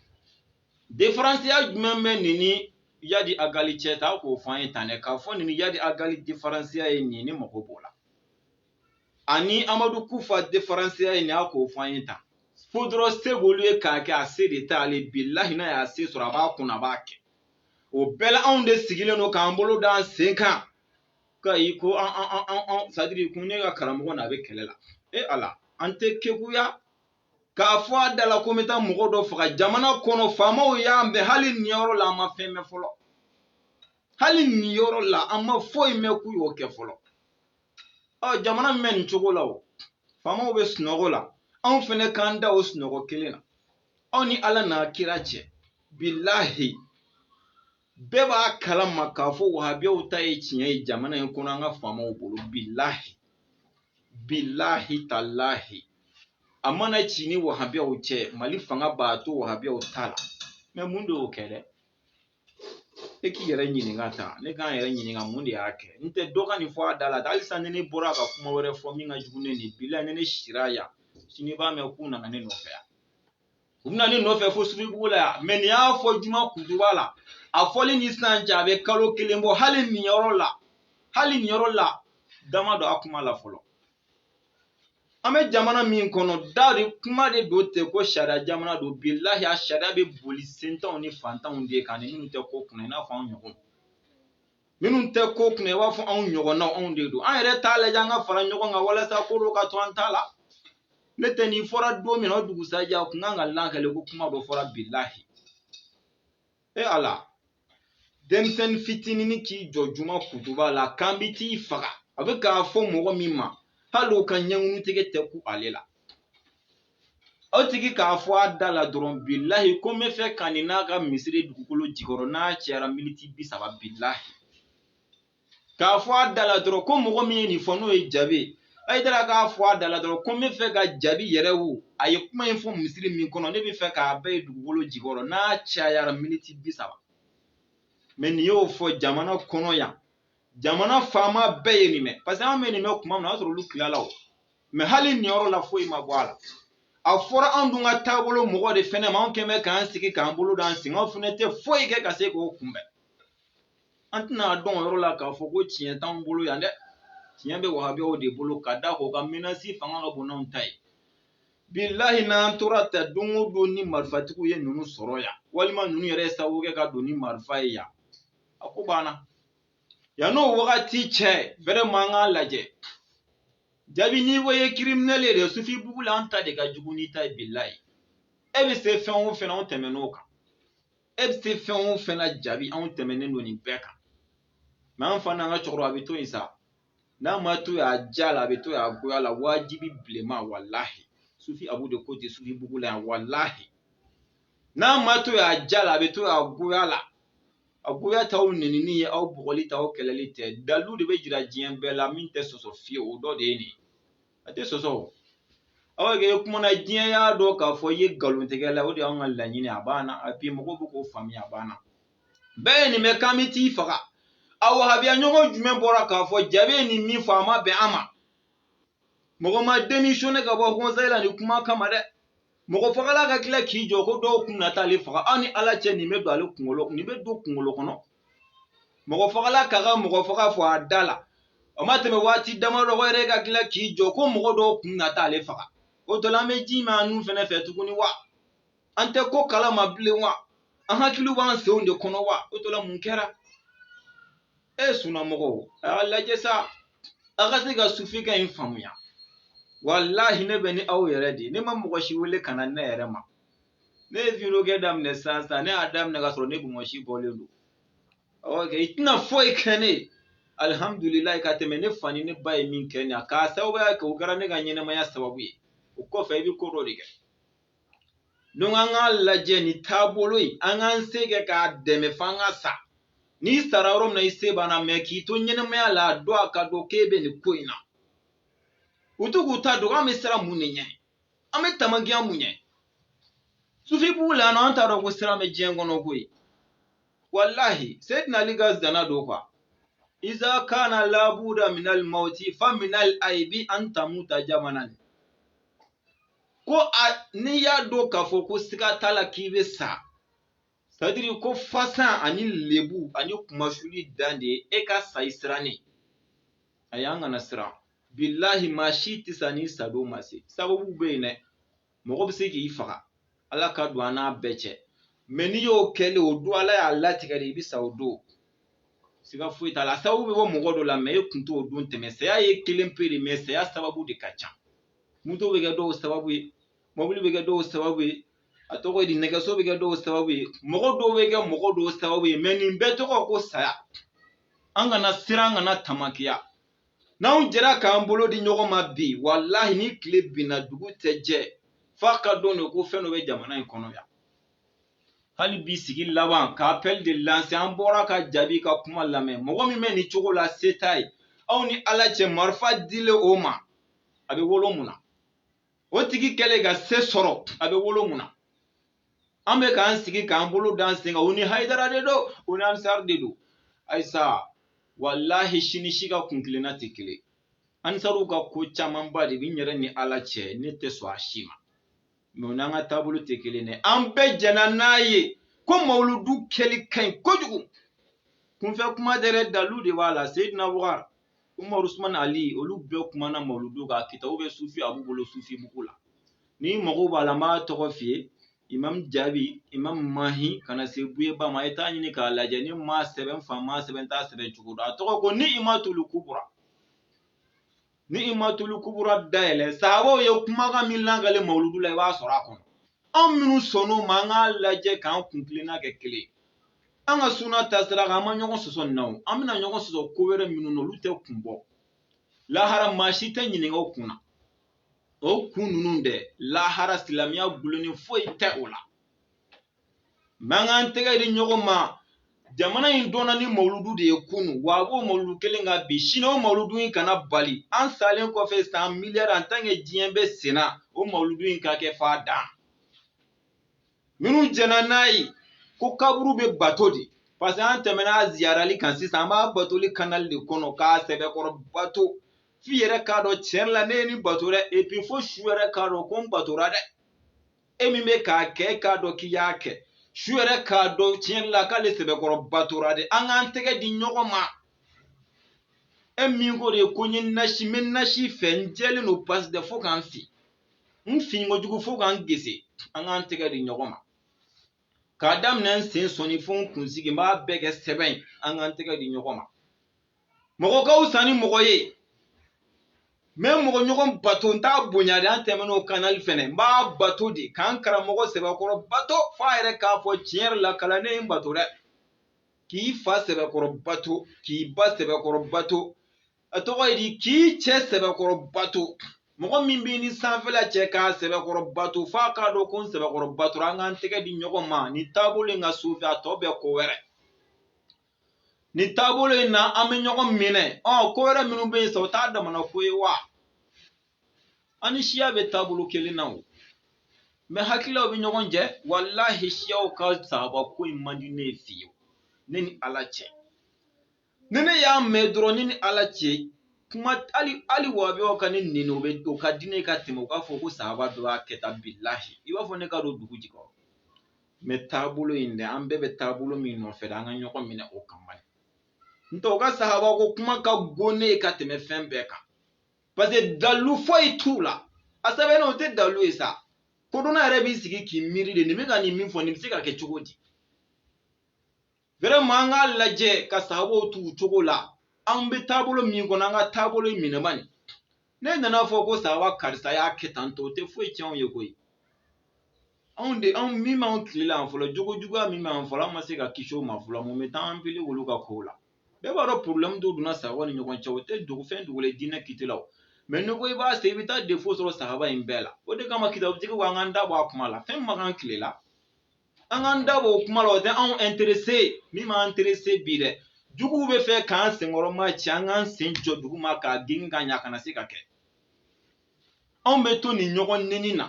diferansiya jumɛn bɛ nin ni yadi agali cɛ ta k'o fɔ an ye tan dɛ k'a fɔ nin ni yadi agali diferansiya ye nin ni mɔgɔ b'o la ani amadu kufa diferansiya ye nin ye a k'o fɔ an ye tan fo dɔrɔn se b'olu ye k'a kɛ a se de t'ale bilahi n'a y'a se sɔrɔ a b'a kun a b'a kɛ o bɛɛ la anw de sigilen don k'an bolo da an sen kan ka i ko an an an an an sadiri kun ne ka karamɔgɔ n'a bɛ kɛlɛ la e ala an tɛ kekuya k'a fɔ a da la ko n bɛ taa mɔgɔ dɔ faga jamana kɔnɔ faamaw y'an bɛn hali nin yɔrɔ la an ma fɛn mɛn fɔlɔ hali nin yɔrɔ la an ma foyi mɛn k'u y'o kɛ fɔlɔ ɔ jamana min bɛ nin cogo la o faamaw bɛ sunɔgɔ la anw fɛnɛ k'an da o sunɔgɔ kelen na aw ni ala n'a kira cɛ bilahi bɛɛ b'a kalama k'a fɔ wahabiyaw ta ye tiɲɛ ye jamana in kɔnɔ an ka faamaw bolo bilahi bilahi talahi a mana ci ni wahabiyaw cɛ mali fanga b'a to wahabiyaw ta la mɛ mun de y'o kɛ dɛ e k'i yɛrɛ ɲininka tan dɛ k'an yɛrɛ ɲininka mun de y'a kɛ n tɛ dɔ ka nin fɔ a da la hali sisan ni ne bɔra ka kuma wɛrɛ fɔ min ka jugu ni nin bila ni ne sira yan sini i b'a mɛn k'u nana ne nɔfɛ yan u bɛna ne nɔfɛ fo sugubugu la yan mɛ nin y'a fɔ juma kuntuba la a fɔli ni sisan cɛ a bɛ kalo kelen bɔ hali nin yɔrɔ la hali nin yɔrɔ la da ma don a kuma la fɔlɔ an bɛ jamana min kɔnɔ da rɔ kuma de don tɛ ko sariya jamana don bilahi a sariya bɛ boli sentanw ni fantanw de kan ni minnu tɛ ko kunna i n'a fɔ anw ɲɔgɔn minnu tɛ ko kunna i b'a fɔ anw ɲɔgɔnnaw anw de don an yɛrɛ t'a lajɛ an ka fara ɲɔgɔn kan walasa ko dɔ ka to an ta la ne tɛ nin fɔra don min na o dugusajɛ a kun kan ka lakale ko kuma dɔ fɔra bilahi e ala denmisɛnnin fitinin k'i jɔ juma kutuba la k'an bi t'i faga a bɛ k'a fɔ mɔgɔ min ma hali o ka ɲɛŋunu tigɛ tɛ kun ale la o tigi k'a fɔ a da la dɔrɔn bilahi ko n bɛ fɛ ka nin n'a ka misiri dugukolo jukɔrɔ n'a cayara miniti bi saba bilahi k'a fɔ a da la dɔrɔn ko mɔgɔ min ye nin fɔ n'o ye jaabi ye ayi taara k'a fɔ a da la dɔrɔn ko n bɛ fɛ ka jaabi yɛrɛ wo a ye kuma in fɔ misiri min kɔnɔ ne bɛ fɛ k'a bɛɛ ye dugukolo jukɔrɔ n'a cayara miniti bi saba mais nin y'o fɔ jamana kɔnɔ yan jamana faama bɛɛ ye nin mɛn parce que an bɛ nin mɛn kuma min na o y'a sɔrɔ olu tilala o mɛn hali nin yɔrɔ la foyi ma bɔ a la a fɔra anw dun ka taabolo mɔgɔ de fɛnɛ ma anw quand même k'an sigi k'an bolo d'an sen kan anw fɛnɛ tɛ foyi kɛ ka se k'o kunbɛn an tɛna a dɔn o yɔrɔ la k'a fɔ ko tiɲɛ t'anw bolo yan dɛ tiɲɛ bɛ wahabiyaw de bolo ka da kan o ka menasi fanga ka bon n'anw ta ye bilahi n'an tora tan don o don ni marifatigiw ye ninnu sɔrɔ yan walima ninnu yɛrɛ ye sababu kɛ ka don ni marifa ye yan a ko banna yan n'o wagati cɛ vraiment an k'a lajɛ jaabi n'i ko i ye kiriminɛli ye dɛ sufi bugu la an ta de ka jugu n'i ta ye bilahi e bɛ se fɛn o fɛn na anw tɛmɛn'o kan e bɛ se fɛn o fɛn na jaabi anw tɛmɛnen don nin bɛɛ kan mais an fana an ka cogo rɔ a bɛ to yen sa n'a ma to yen a diya la a bɛ to yen a goya la wajibi bilenman walahi sufi abu de ko ten sufi bugu la yan walahi n'a ma to yen a diya la a bɛ to yen a goya la a goya t'aw nenini ye aw bugɔli t'aw kɛlɛli tɛ dalilu de bɛ jira diɲɛ bɛɛ la min tɛ sɔsɔ fiyewu o dɔ de ye nin ye a tɛ sɔsɔ o aw kɛ kumana diɲɛ y'a dɔn k'a fɔ i ye nkalontigɛla o de y'an ka laɲini a banna a bi mɔgɔw bɛ k'o faamuya a banna bɛɛ ye nin mɛn k'an bɛ t'i faga a wahabiya ɲɔgɔn jumɛn bɔra k'a fɔ jaabi ye nin min fɔ a ma bɛn an ma mɔgɔ ma démissionner ka bɔ conseil la nin kuma kama dɛ mɔgɔ fagala ka tila k'i jɔ ko dɔw kun na taa ale faga aw ni ala cɛ nin bɛ don ale kunkolo nin bɛ don kunkolo kɔnɔ mɔgɔ fagala ka ka mɔgɔ faga fɔ a da la o ma tɛmɛ waati damadɔ o yɛrɛ ka tila k'i jɔ ko mɔgɔ dɔw kun na taa ale faga o tɔ la an bɛ jɛ maa ninnu fɛnɛ fɛ tuguni wa an tɛ ko kala ma bilen wa an hakiliw b'an senw de kɔnɔ wa o tɔ la mun kɛra e sunnamɔgɔw a y'a lajɛ sa a ka se ka sufi kan in faamuya walahi ne bɛ ni aw yɛrɛ de ye ne ma mɔgɔ si wele ka na ne yɛrɛ ma ne ye vidéo kɛ daminɛ sisan sisan ne y'a daminɛ ka sɔrɔ ne bonbonsi bɔlen don oke i tɛna foyi kɛ ne ye alihamudulilayi ka tɛmɛ ne fa ni ne ba ye min kɛ ne ye ka sababuya kɛ o kɛra ne ka ɲɛnɛmaya sababu ye o kɔfɛ i bɛ ko dɔ de kɛ donc an k'a lajɛ ni taabolo in an k'an se kɛ k'a dɛmɛ fo an ka sa n'i sara yɔrɔ min na i se banna mɛ k'i to ɲɛnɛmaya la a dɔn a k'a dɔn k'e bɛ nin ko in na u to k'u ta don an bɛ siran mun de ɲɛ an bɛ tamakiya mun ɲɛ sufibugu la nɔ an t'a dɔn ko siran bɛ diɲɛ kɔnɔ koyi walahi seyidina ali ka zana don ko wa iza kana labuda minal mauti fa minal aibi an tamuta jabanan ko a n'i y'a dɔn k'a fɔ ko siga t'a la k'i bɛ sa c'est-à-dire ko fasan ani lebu ani kunmasuuli dan de ye e ka sa i sirannen a y'an kana siran bilahi maa si tɛ sa n'i sadon ma se sababu bɛ yen dɛ mɔgɔ bɛ se k'i faga ala ka don an n'a bɛɛ cɛ mɛ n'i y'o kɛlen o don ala y'a latigɛ de i bɛ sa o don siga foyi t'a la a sababu bɛ bɔ mɔgɔ dɔ la mɛ e kun t'o don tɛmɛ saya ye kelen pe de mɛ saya sababu de ka ca moto bɛ kɛ dɔw sababu ye mɔbili bɛ kɛ dɔw sababu ye a tɔgɔ ye di nɛgɛso bɛ kɛ dɔw sababu ye mɔgɔ dɔw bɛ kɛ mɔgɔ dɔw sababu ye mɛ nin bɛɛ tɔgɔ ko saya an kana siran an kana tamakiya n'anw jɛra k'an bolo di ɲɔgɔn ma bi walahi ni tile binna dugu tɛ jɛ f'a k'a dɔn de ko fɛn dɔ bɛ jamana in kɔnɔ yan hali bi sigi laban ka appel de lancer an bɔra ka jaabi ka kuma lamɛn mɔgɔ min bɛ nin cogo la se t'a ye aw ni ala cɛ marifa dilen o ma a bɛ wolo mun na o tigi kɛlen ka se sɔrɔ a bɛ wolo mun na an bɛ k'an sigi k'an bolo d'an sen kan u ni hayidara de don u ni ansari de don ayisa walahi si ni si ka kuntilenna tɛ kelen ansariw ka ko camanba de bɛ n yɛrɛ ni ala cɛ ne tɛ sɔn a si ma mɛ u n'an ka taabolo tɛ kelen dɛ an bɛɛ jɛnna n'a ye ko mawuludu kɛli ka ɲi kojugu kunfɛ kuma tɛ dɛ dalu de b'a la seyidina bukari Umaru Usman Ali olu bɛɛ kumana mawuludu kan kitabu bɛ sufi abu bolo sufibugu la n'i mago b'a la n b'a tɔgɔ f'i ye imam jaabi imam mahi kana se buyeba ma e t'a ɲini k'a lajɛ ni ma sɛbɛn fa ma sɛbɛn t'a sɛbɛn cogo dɔ a tɔgɔ ko niimatulu kubura niimatulu kubura dayɛlɛ sahabaw ye kumakan min lankale mawuludu la i b'a sɔrɔ a kɔnɔ anw minnu sɔnn'o ma an k'a lajɛ k'an kuntilenna kɛ kelen an ka suna taasira kan an ma ɲɔgɔn sɔsɔ nin na o an bɛna ɲɔgɔn sɔsɔ ko wɛrɛ minnu na olu tɛ kun bɔ lahara maa si tɛ ɲininka o kun na o kun ninnu dɛ lahara silamɛya gulonnen foyi tɛ o la mɛ an k'an tɛgɛ di ɲɔgɔn ma jamana in dɔnna ni mawuludu de ye kunu wa a b'o mawuludu kelen kan bi sini o mawuludu in kana bali an salen kɔfɛ san miliyari an tant que diɲɛ bɛ senna o mawuludu in ka kɛ f'a dan minnu jɛnna n'a ye ko kaburu bɛ bato de parce que an tɛmɛna a ziyarali kan sisan an b'a batoli kanali de kɔnɔ k'a sɛbɛkɔrɔ bato f'i yɛrɛ k'a dɔn tiɲɛ la ne ye nin bato dɛ et puis fo su yɛrɛ k'a dɔn ko n batora dɛ e min bɛ k'a kɛ e k'a dɔn k'i y'a kɛ su yɛrɛ k'a dɔn tiɲɛ la k'ale sɛbɛkɔrɔ batora dɛ an k'an tɛgɛ di ɲɔgɔn ma e min ko de ko n ye nasi n bɛ nasi fɛ n jɛlen don pasi dɛ fo ka n fin n finko jugu fo ka n gese an k'an tɛgɛ di ɲɔgɔn ma k'a daminɛ n sen sɔnin fo n kunsigi n b'a bɛɛ kɛ sɛbɛn ye an k'an tɛgɛ di ɲɔgɔn ma mɔgɔ ka fisa ni mɔgɔ ye n bɛ n mɔgɔ ɲɔgɔn bato n t'a bonya de an tɛmɛn'o kanali fɛnɛ n b'a bato de k'an karamɔgɔ sɛbɛkɔrɔ bato f'a yɛrɛ k'a fɔ tiɲɛ yɛrɛ la kalanden ye n bato dɛ k'i fa sɛbɛkɔrɔ bato k'i ba sɛbɛkɔrɔ bato a tɔgɔ ye di k'i cɛ sɛbɛkɔrɔ bato mɔgɔ min b'i ni sanfɛla cɛ k'a sɛbɛkɔrɔ bato f'a k'a dɔn ko n sɛbɛkɔrɔ batora an k'an tɛgɛ di ɲɔgɔn ma nin taabolo in kan sufɛ a tɔ bɛɛ ko wɛrɛ nin taabolo in na an bɛ ɲɔgɔn minɛ ɔ ko wɛrɛ minnu bɛ yen sa o t'a damana ko ye wa an ni siya bɛ taabolo kelen na o mɛ hakililaw bɛ ɲɔgɔn jɛ walahi siyaw ka sahaba ko in man di ne ye fiyewu ne ni ala cɛ ni ne y'a mɛn dɔrɔn ne ni ala cɛ kuma hali hali wabiyaw ka ne neni o bɛ o ka di ne ye ka tɛmɛ u k'a fɔ ko sahaba dɔ y'a kɛ tan bilahi i b'a fɔ ne ka don dugu jukɔrɔ mɛ taabolo in dɛ an bɛɛ bɛ taabolo min nɔfɛ dɛ an ka ɲɔgɔn minɛ o kan bani ntɛ u ka sahaba ko kuma ka go ne ye ka tɛmɛ fɛn bɛɛ kan parce que dalu foyi t'u la a sɛbɛnnen o tɛ dalu ye sa kodɔnna yɛrɛ b'i sigi k'i miiri de nin bɛ ka nin min fɔ nin bɛ se ka kɛ cogo di vraiment an k'a lajɛ ka sahabaw to u cogo la an bɛ taabolo min kɔnɔ an ka taabolo in minɛ bani ne nan'a fɔ ko sahaba karisa y'a kɛ tan tɔ o tɛ foyi tiɲɛ anw ye koyi anw de anw min b'anw tile la yan fɔlɔ jogo juguya min b'an fɔlɔ an ma se ka kisi o ma fɔlɔ mun bɛ taa an pili olu ka kow la bɛɛ b'a dɔn problème dɔ donna sahaba ni ɲɔgɔn cɛ o tɛ dogo fɛn dogo la diinɛ kiti la o mɛ n'i ko i b'a se i bɛ taa défaut sɔrɔ sahaba in bɛɛ la o de kama kitabutigi ko an k'an da bɔ a kuma la fɛn min ma k'an tile la an k'an da b'o kuma la o tɛ anw ɛnterese min b'an ɛnterese bi dɛ juguw bɛ fɛ k'an senkɔrɔmacɛ an k'an sen jɔ dugu ma k'a gengen ka ɲɛ a kana se ka kɛ anw bɛ to nin ɲɔgɔn neni na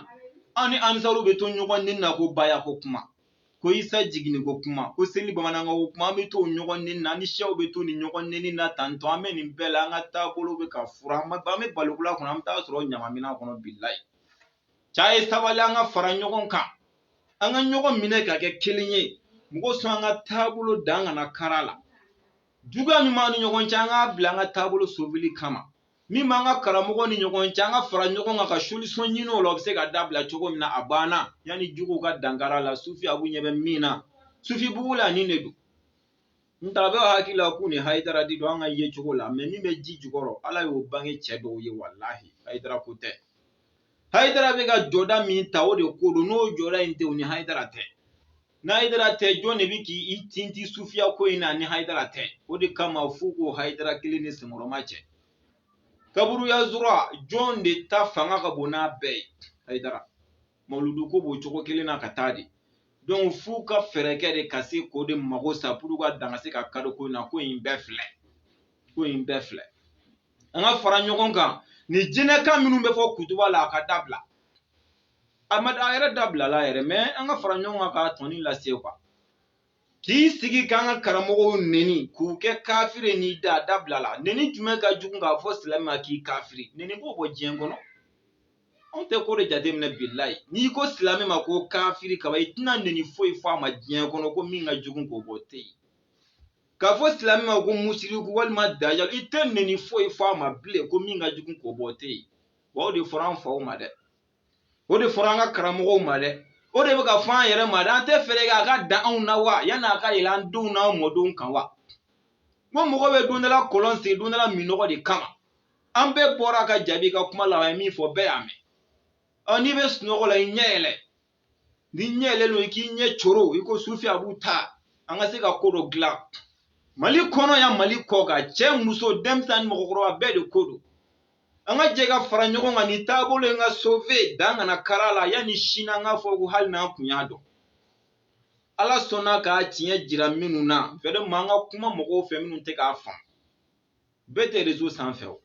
an ni ansaruw bɛ to ɲɔgɔn neni na ko baya ko kuma ko isa jiginni ko kuma ko seli bamanankan ko kuma an bɛ to ɲɔgɔn neni na an ni siyaw bɛ to nin ɲɔgɔn neni na tantɔ an bɛ nin bɛɛ la an ka taabolo bɛ ka furan an bɛ balokula kɔnɔ an bɛ taa sɔrɔ ɲamamina kɔnɔ bilayi c'a ye sabali an ka fara ɲɔgɔn kan an ka ɲɔgɔn minɛ ka kɛ kelen ye mɔgɔ sɔn an ka taabolo dan kana kari a la juguya min b'an ni ɲɔgɔn cɛ an k'a bila an ka taabolo soveli kama min b'an ka karamɔgɔ ni ɲɔgɔn cɛ an ka fara ɲɔgɔn kan ka solisɔn ɲini o la o bɛ se ka dabila cogo min na a banna yanni juguw ka dankari a la sufi abu ɲɛ bɛ min na sufi bugu la nin de don n ta bɛ hakili la k'u ni hayidara de don an ka yecogo la mɛ min bɛ ji jukɔrɔ ala y'o bange cɛ dɔw ye walahi hayidara ko tɛ hayidara bɛ ka jɔda min ta o de ko don n'o jɔda in tɛ u ni hayidara tɛ ni hayidara tɛ jɔn de bɛ k'i tinti sufiya ko in na ni hayidara tɛ o de kama f'u k'o hayidara kelen nin senkɔrɔmacɛ kaburuya zura jɔn de ta fanga ka bon n'a bɛɛ ye hayidara mawuludu ko b'o cogo kelen na ka taa de donc f'u ka fɛɛrɛ kɛ de ka se k'o de mago sa pour ka dan ka se ka kari o ko in na ko in bɛɛ filɛ ko in bɛɛ filɛ an ka fara ɲɔgɔn kan ni jinɛkan minnu bɛ fɔ kutuba la a ka dabila a ma a yɛrɛ dabilala yɛrɛ mɛ an ka fara ɲɔgɔn kan k'a tɔni lase kuwa k'i sigi k'an ka karamɔgɔw neni k'u kɛ kafiri nin de dabilala neni jumɛn ka jugu k'a fɔ silamɛ ma k'i kafiri neni b'o bɔ diɲɛ kɔnɔ anw tɛ ko de jateminɛ bilayi n'i ko silamɛ ma ko kafiri ka ban i tɛna neni foyi fɔ a ma diɲɛ kɔnɔ ko min ka jugu k'o bɔ tɛ yen k'a fɔ silamɛ ma ko musiriku walima dajal i tɛ neni foyi fɔ a ma bilen ko min ka jugu k'o bɔ tɛ yen wa o de fɔra an faw ma dɛ o de fɔra an ka karamɔgɔw ma dɛ o de bɛ ka fɔ an yɛrɛ ma dɛ an tɛ fɛɛrɛ kɛ a ka dan anw na wa yanni a ka yɛlɛ an denw n'an mɔdenw kan wa ko mɔgɔ bɛ don dɔ la kɔlɔn sen don dɔ la minnɔgɔ de kama an bɛɛ bɔra ka jaabi ka kuma lamɛn a ye min fɔ bɛɛ y'a mɛn ɔ n'i bɛ sunɔgɔ la i ɲɛ yɛlɛ n'i ɲɛ yɛlɛlen don i k'i ɲɛ coro i ko sufi abu ta an ka se ka ko dɔ dilan mali kɔnɔ yan mali kɔkan cɛ muso denmisɛnnin ni mɔgɔkɔrɔba bɛɛ de ko don an ka jɛ ka fara ɲɔgɔn kan nin taabolo in ka sove dan kana kari a la yanni sini an k'a fɔ ko hali n'an tun y'a dɔn ala sɔnna k'a tiɲɛ jira minnu na vraiment an ka kuma mɔgɔw fɛ minnu tɛ k'a faamu bɛɛ tɛ rezo sanfɛ o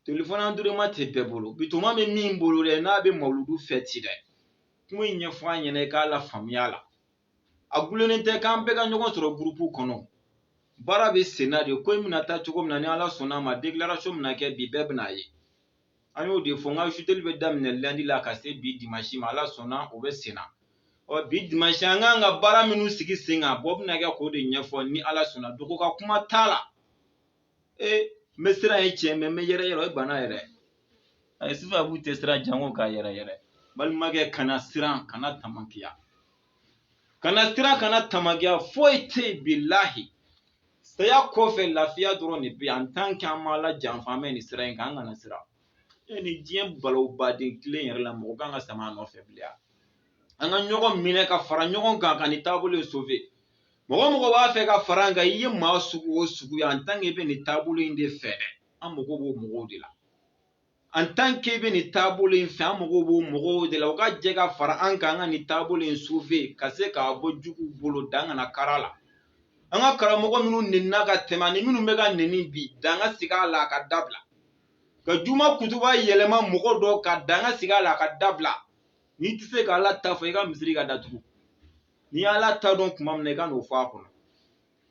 telefɔni androyidima tɛ bɛɛ bolo bitɔnma bɛ min bolo dɛ n'a bɛ mawuludu fɛti dɛ kuma in ɲɛfɔ a ɲɛna i k'a lafaamuya la a gulonnen tɛ k'an bɛɛ ka ɲɔgɔn sɔrɔ gurupu kɔnɔ baara bɛ senna de ko in bɛna taa cogo min na ni ala sɔnna a ma dekilarasɔn bɛna kɛ bi bɛɛ bɛna a ye an y'o de fɔ n ka suteli bɛ daminɛ landi la ka se bi dimasi ma ala sɔnna o bɛ senna ɔ bi dimasi an k'an ka baara minnu sigi sen kan bɔ bɛna kɛ k'o de ɲɛfɔ ni ala sɔnna dogo ka kuma t'a la ee n bɛ siran ee cɛ n bɛ yɛrɛ yɛrɛ o ye bana yɛrɛ ayi sufi abu tɛ siran janko ka yɛrɛ yɛrɛ balimakɛ kana siran kana tamakiya kana siran kana tamakiya foyi tɛ yen bilahi saya kɔfɛ lafiya dɔrɔn de bɛ yen an tan kɛ an ma ala janfa an bɛ nin sira in kan an kana siran e ni diɲɛ balo baden kelen yɛrɛ la mɔgɔ kan ka sama nɔfɛ bilen an ka ɲɔgɔn minɛ ka fara ɲɔgɔn kan ka nin taabolo in sove mɔgɔ mɔgɔ b'a fɛ ka fara an kan i ye maa sugu o sugu ye an tan k'i bɛ nin taabolo in de fɛ dɛ an mago b'o mɔgɔw de la an tan k'e bɛ nin taabolo in fɛ an mago b'o mɔgɔw de la u ka jɛ ka fara an kan an ka nin taabolo in sove ka se k'a bɔ juguw bolo dan kana kari a la an ka karamɔgɔ minnu nenina ka tɛmɛ ani minnu bɛ ka neni bi dan ka sigi a la a ka dabila ka juma kutuba yɛlɛma mɔgɔ dɔ kan dan ka sigi a la a ka dabila n'i tɛ se ka ala ta fɔ i ka misiri ka datugu n'i y'ala ta dɔn tuma min na i ka n'o fɔ a kɔnɔ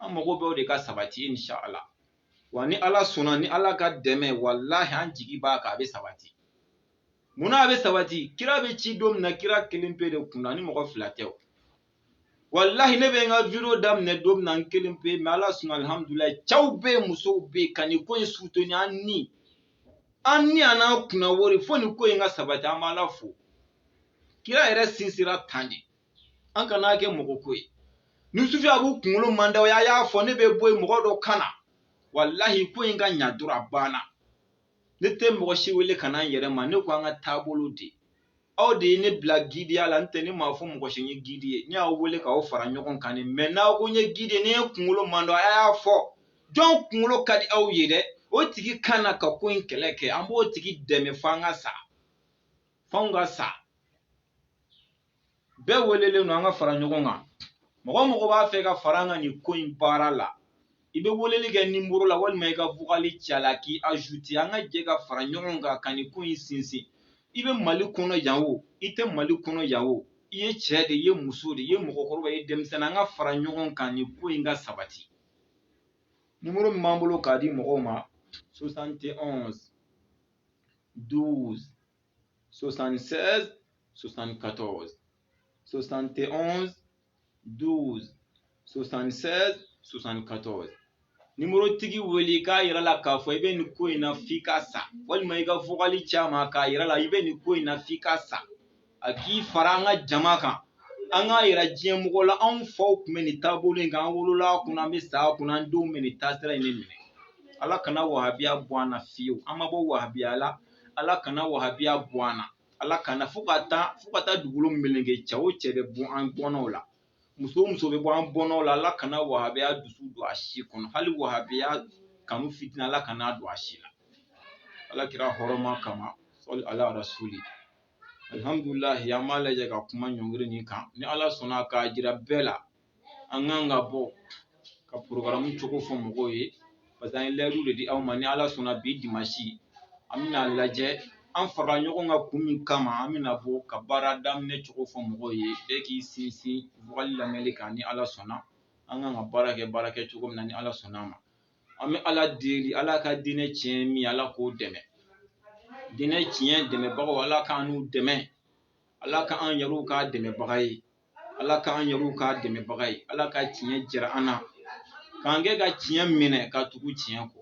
an mago bɛ o de ka sabati insha Allah wa ni ala sɔnna ni ala ka dɛmɛ walahi an jigi b'a kan a bɛ sabati munna a bɛ sabati kira bɛ ci don min na kira kelen pe de kunna ni mɔgɔ fila tɛ o walahi ne bɛ n ka video daminɛ don min na n kelen pe mɛ ala sɔnna alihamudulilayi cɛw bɛ yen musow bɛ yen ka nin ko in suteni an ni an ni an n'an kunna wari fo nin ko in ka sabati an b'ala fo kira yɛrɛ sinsira tan de an kana kɛ mɔgɔ ko ye ni sufi abu kunkolo man d'aw ye a y'a fɔ ne bɛ bɔ yen mɔgɔ dɔ ka na walahi ko in ka ɲa dɔrɔn a banna ne tɛ mɔgɔ si wele ka na n yɛrɛ ma ne ko an ka taabolo de aw de ye ne bila gidiya la n tɛ ne m'a fɔ mɔgɔ si n ye gidi ye ne y'aw wele k'aw fara ɲɔgɔn kan de mɛ n'aw ko n ye gidi ye ni ne kunkolo man d'aw ye a y'a fɔ jɔn kunkolo ka di aw ye dɛ o tigi ka na ka ko in kɛlɛ kɛ an b'o tigi dɛmɛ f'an ka sa f'anw ka sa bɛɛ welelen don an ka fara ɲɔgɔn kan mɔgɔ mɔgɔ b'a fɛ ka fara an kan nin ko in baara la i bɛ weleli kɛ nimoro la walima i ka vokali ci a la k'i azute an ka jɛ ka fara ɲɔgɔn kan ka nin ko in sinsin i bɛ mali kɔnɔ yan o i tɛ mali kɔnɔ yan o i ye cɛ de i ye muso de i ye mɔgɔkɔrɔba i ye denmisɛnnin an ka fara ɲɔgɔn kan nin ko in ka sabati nimoro min b'an bolo k'a di mɔgɔw ma 71 12 76, 74, 71, 12, 76, 74. nimorotigi wele k'a yira a la k'a fɔ i bɛ nin ko in na f'i ka sa walima i ka vokali ci a ma k'a yira a la i bɛ nin ko in na f'i ka sa a k'i fara an ka jama kan an k'a yira diɲɛ mɔgɔ la anw faw tun bɛ nin taabolo in kan an wolola a kunna an bɛ sa a kunna an denw bɛ nin taasira in de minɛ ala kana wahabiya bɔ an na fiyewu an ma bɔ wahabiya la ala kana wahabiya bɔ an na ala kana fo ka taa fo ka taa dugukolo meleke cɛ o cɛ bɛ bɔ an bɔnnaw la muso o muso bɛ bɔ an bɔnnaw la ala kana wahabiya dusu don a si kɔnɔ hali wahabiya kanu fitinin ala kana don a si la ala kira hɔrɔma kama sɔli ala rasuli alihamdulilahi an b'a lajɛ ka kuma ɲɔngiri nin kan ni ala sɔnna k'a jira bɛɛ la an kan ka bɔ ka porokaramu cogo fɔ mɔgɔw ye parce que an ye layidu de di aw ma ni ala sɔnna bi dimansi an bɛna lajɛ an fara ɲɔgɔn kan kun min kama an bɛna bɔ ka baara daminɛ cogo fɔ mɔgɔw ye bɛɛ k'i sinsin vocal lamɛnni kan ni ala sɔnna an kan ka baara kɛ baara kɛ cogo min na ni ala sɔnna a ma an bɛ ala deli ala ka diinɛ tiɲɛ min ala k'o dɛmɛ diinɛ tiɲɛ dɛmɛbagaw ala k'an n'u dɛmɛ ala k'an yɛrɛw k'a dɛmɛbaga ye ala k'an yɛrɛw k'a dɛmɛbaga ye ala ka tiɲɛ jira an na k'an kɛ ka tiɲɛ minɛ ka tugu tiɲɛ kɔ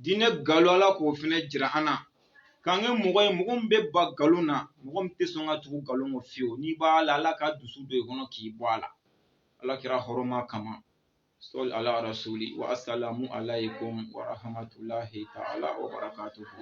diinɛ galo ala k'o fana jira an na k'an kɛ mɔgɔ ye mɔgɔ min bɛ ban galo na mɔgɔ min tɛ sɔn ka tugu galo kɔ fiyewu n'i b'a la ala ka dusu don i kɔnɔ k'i bɔ a la ala kira hɔrɔma kama sɔli ala rasuli wa asalamu alaykum wa rahmatulahi ta'ala wa barakatuhu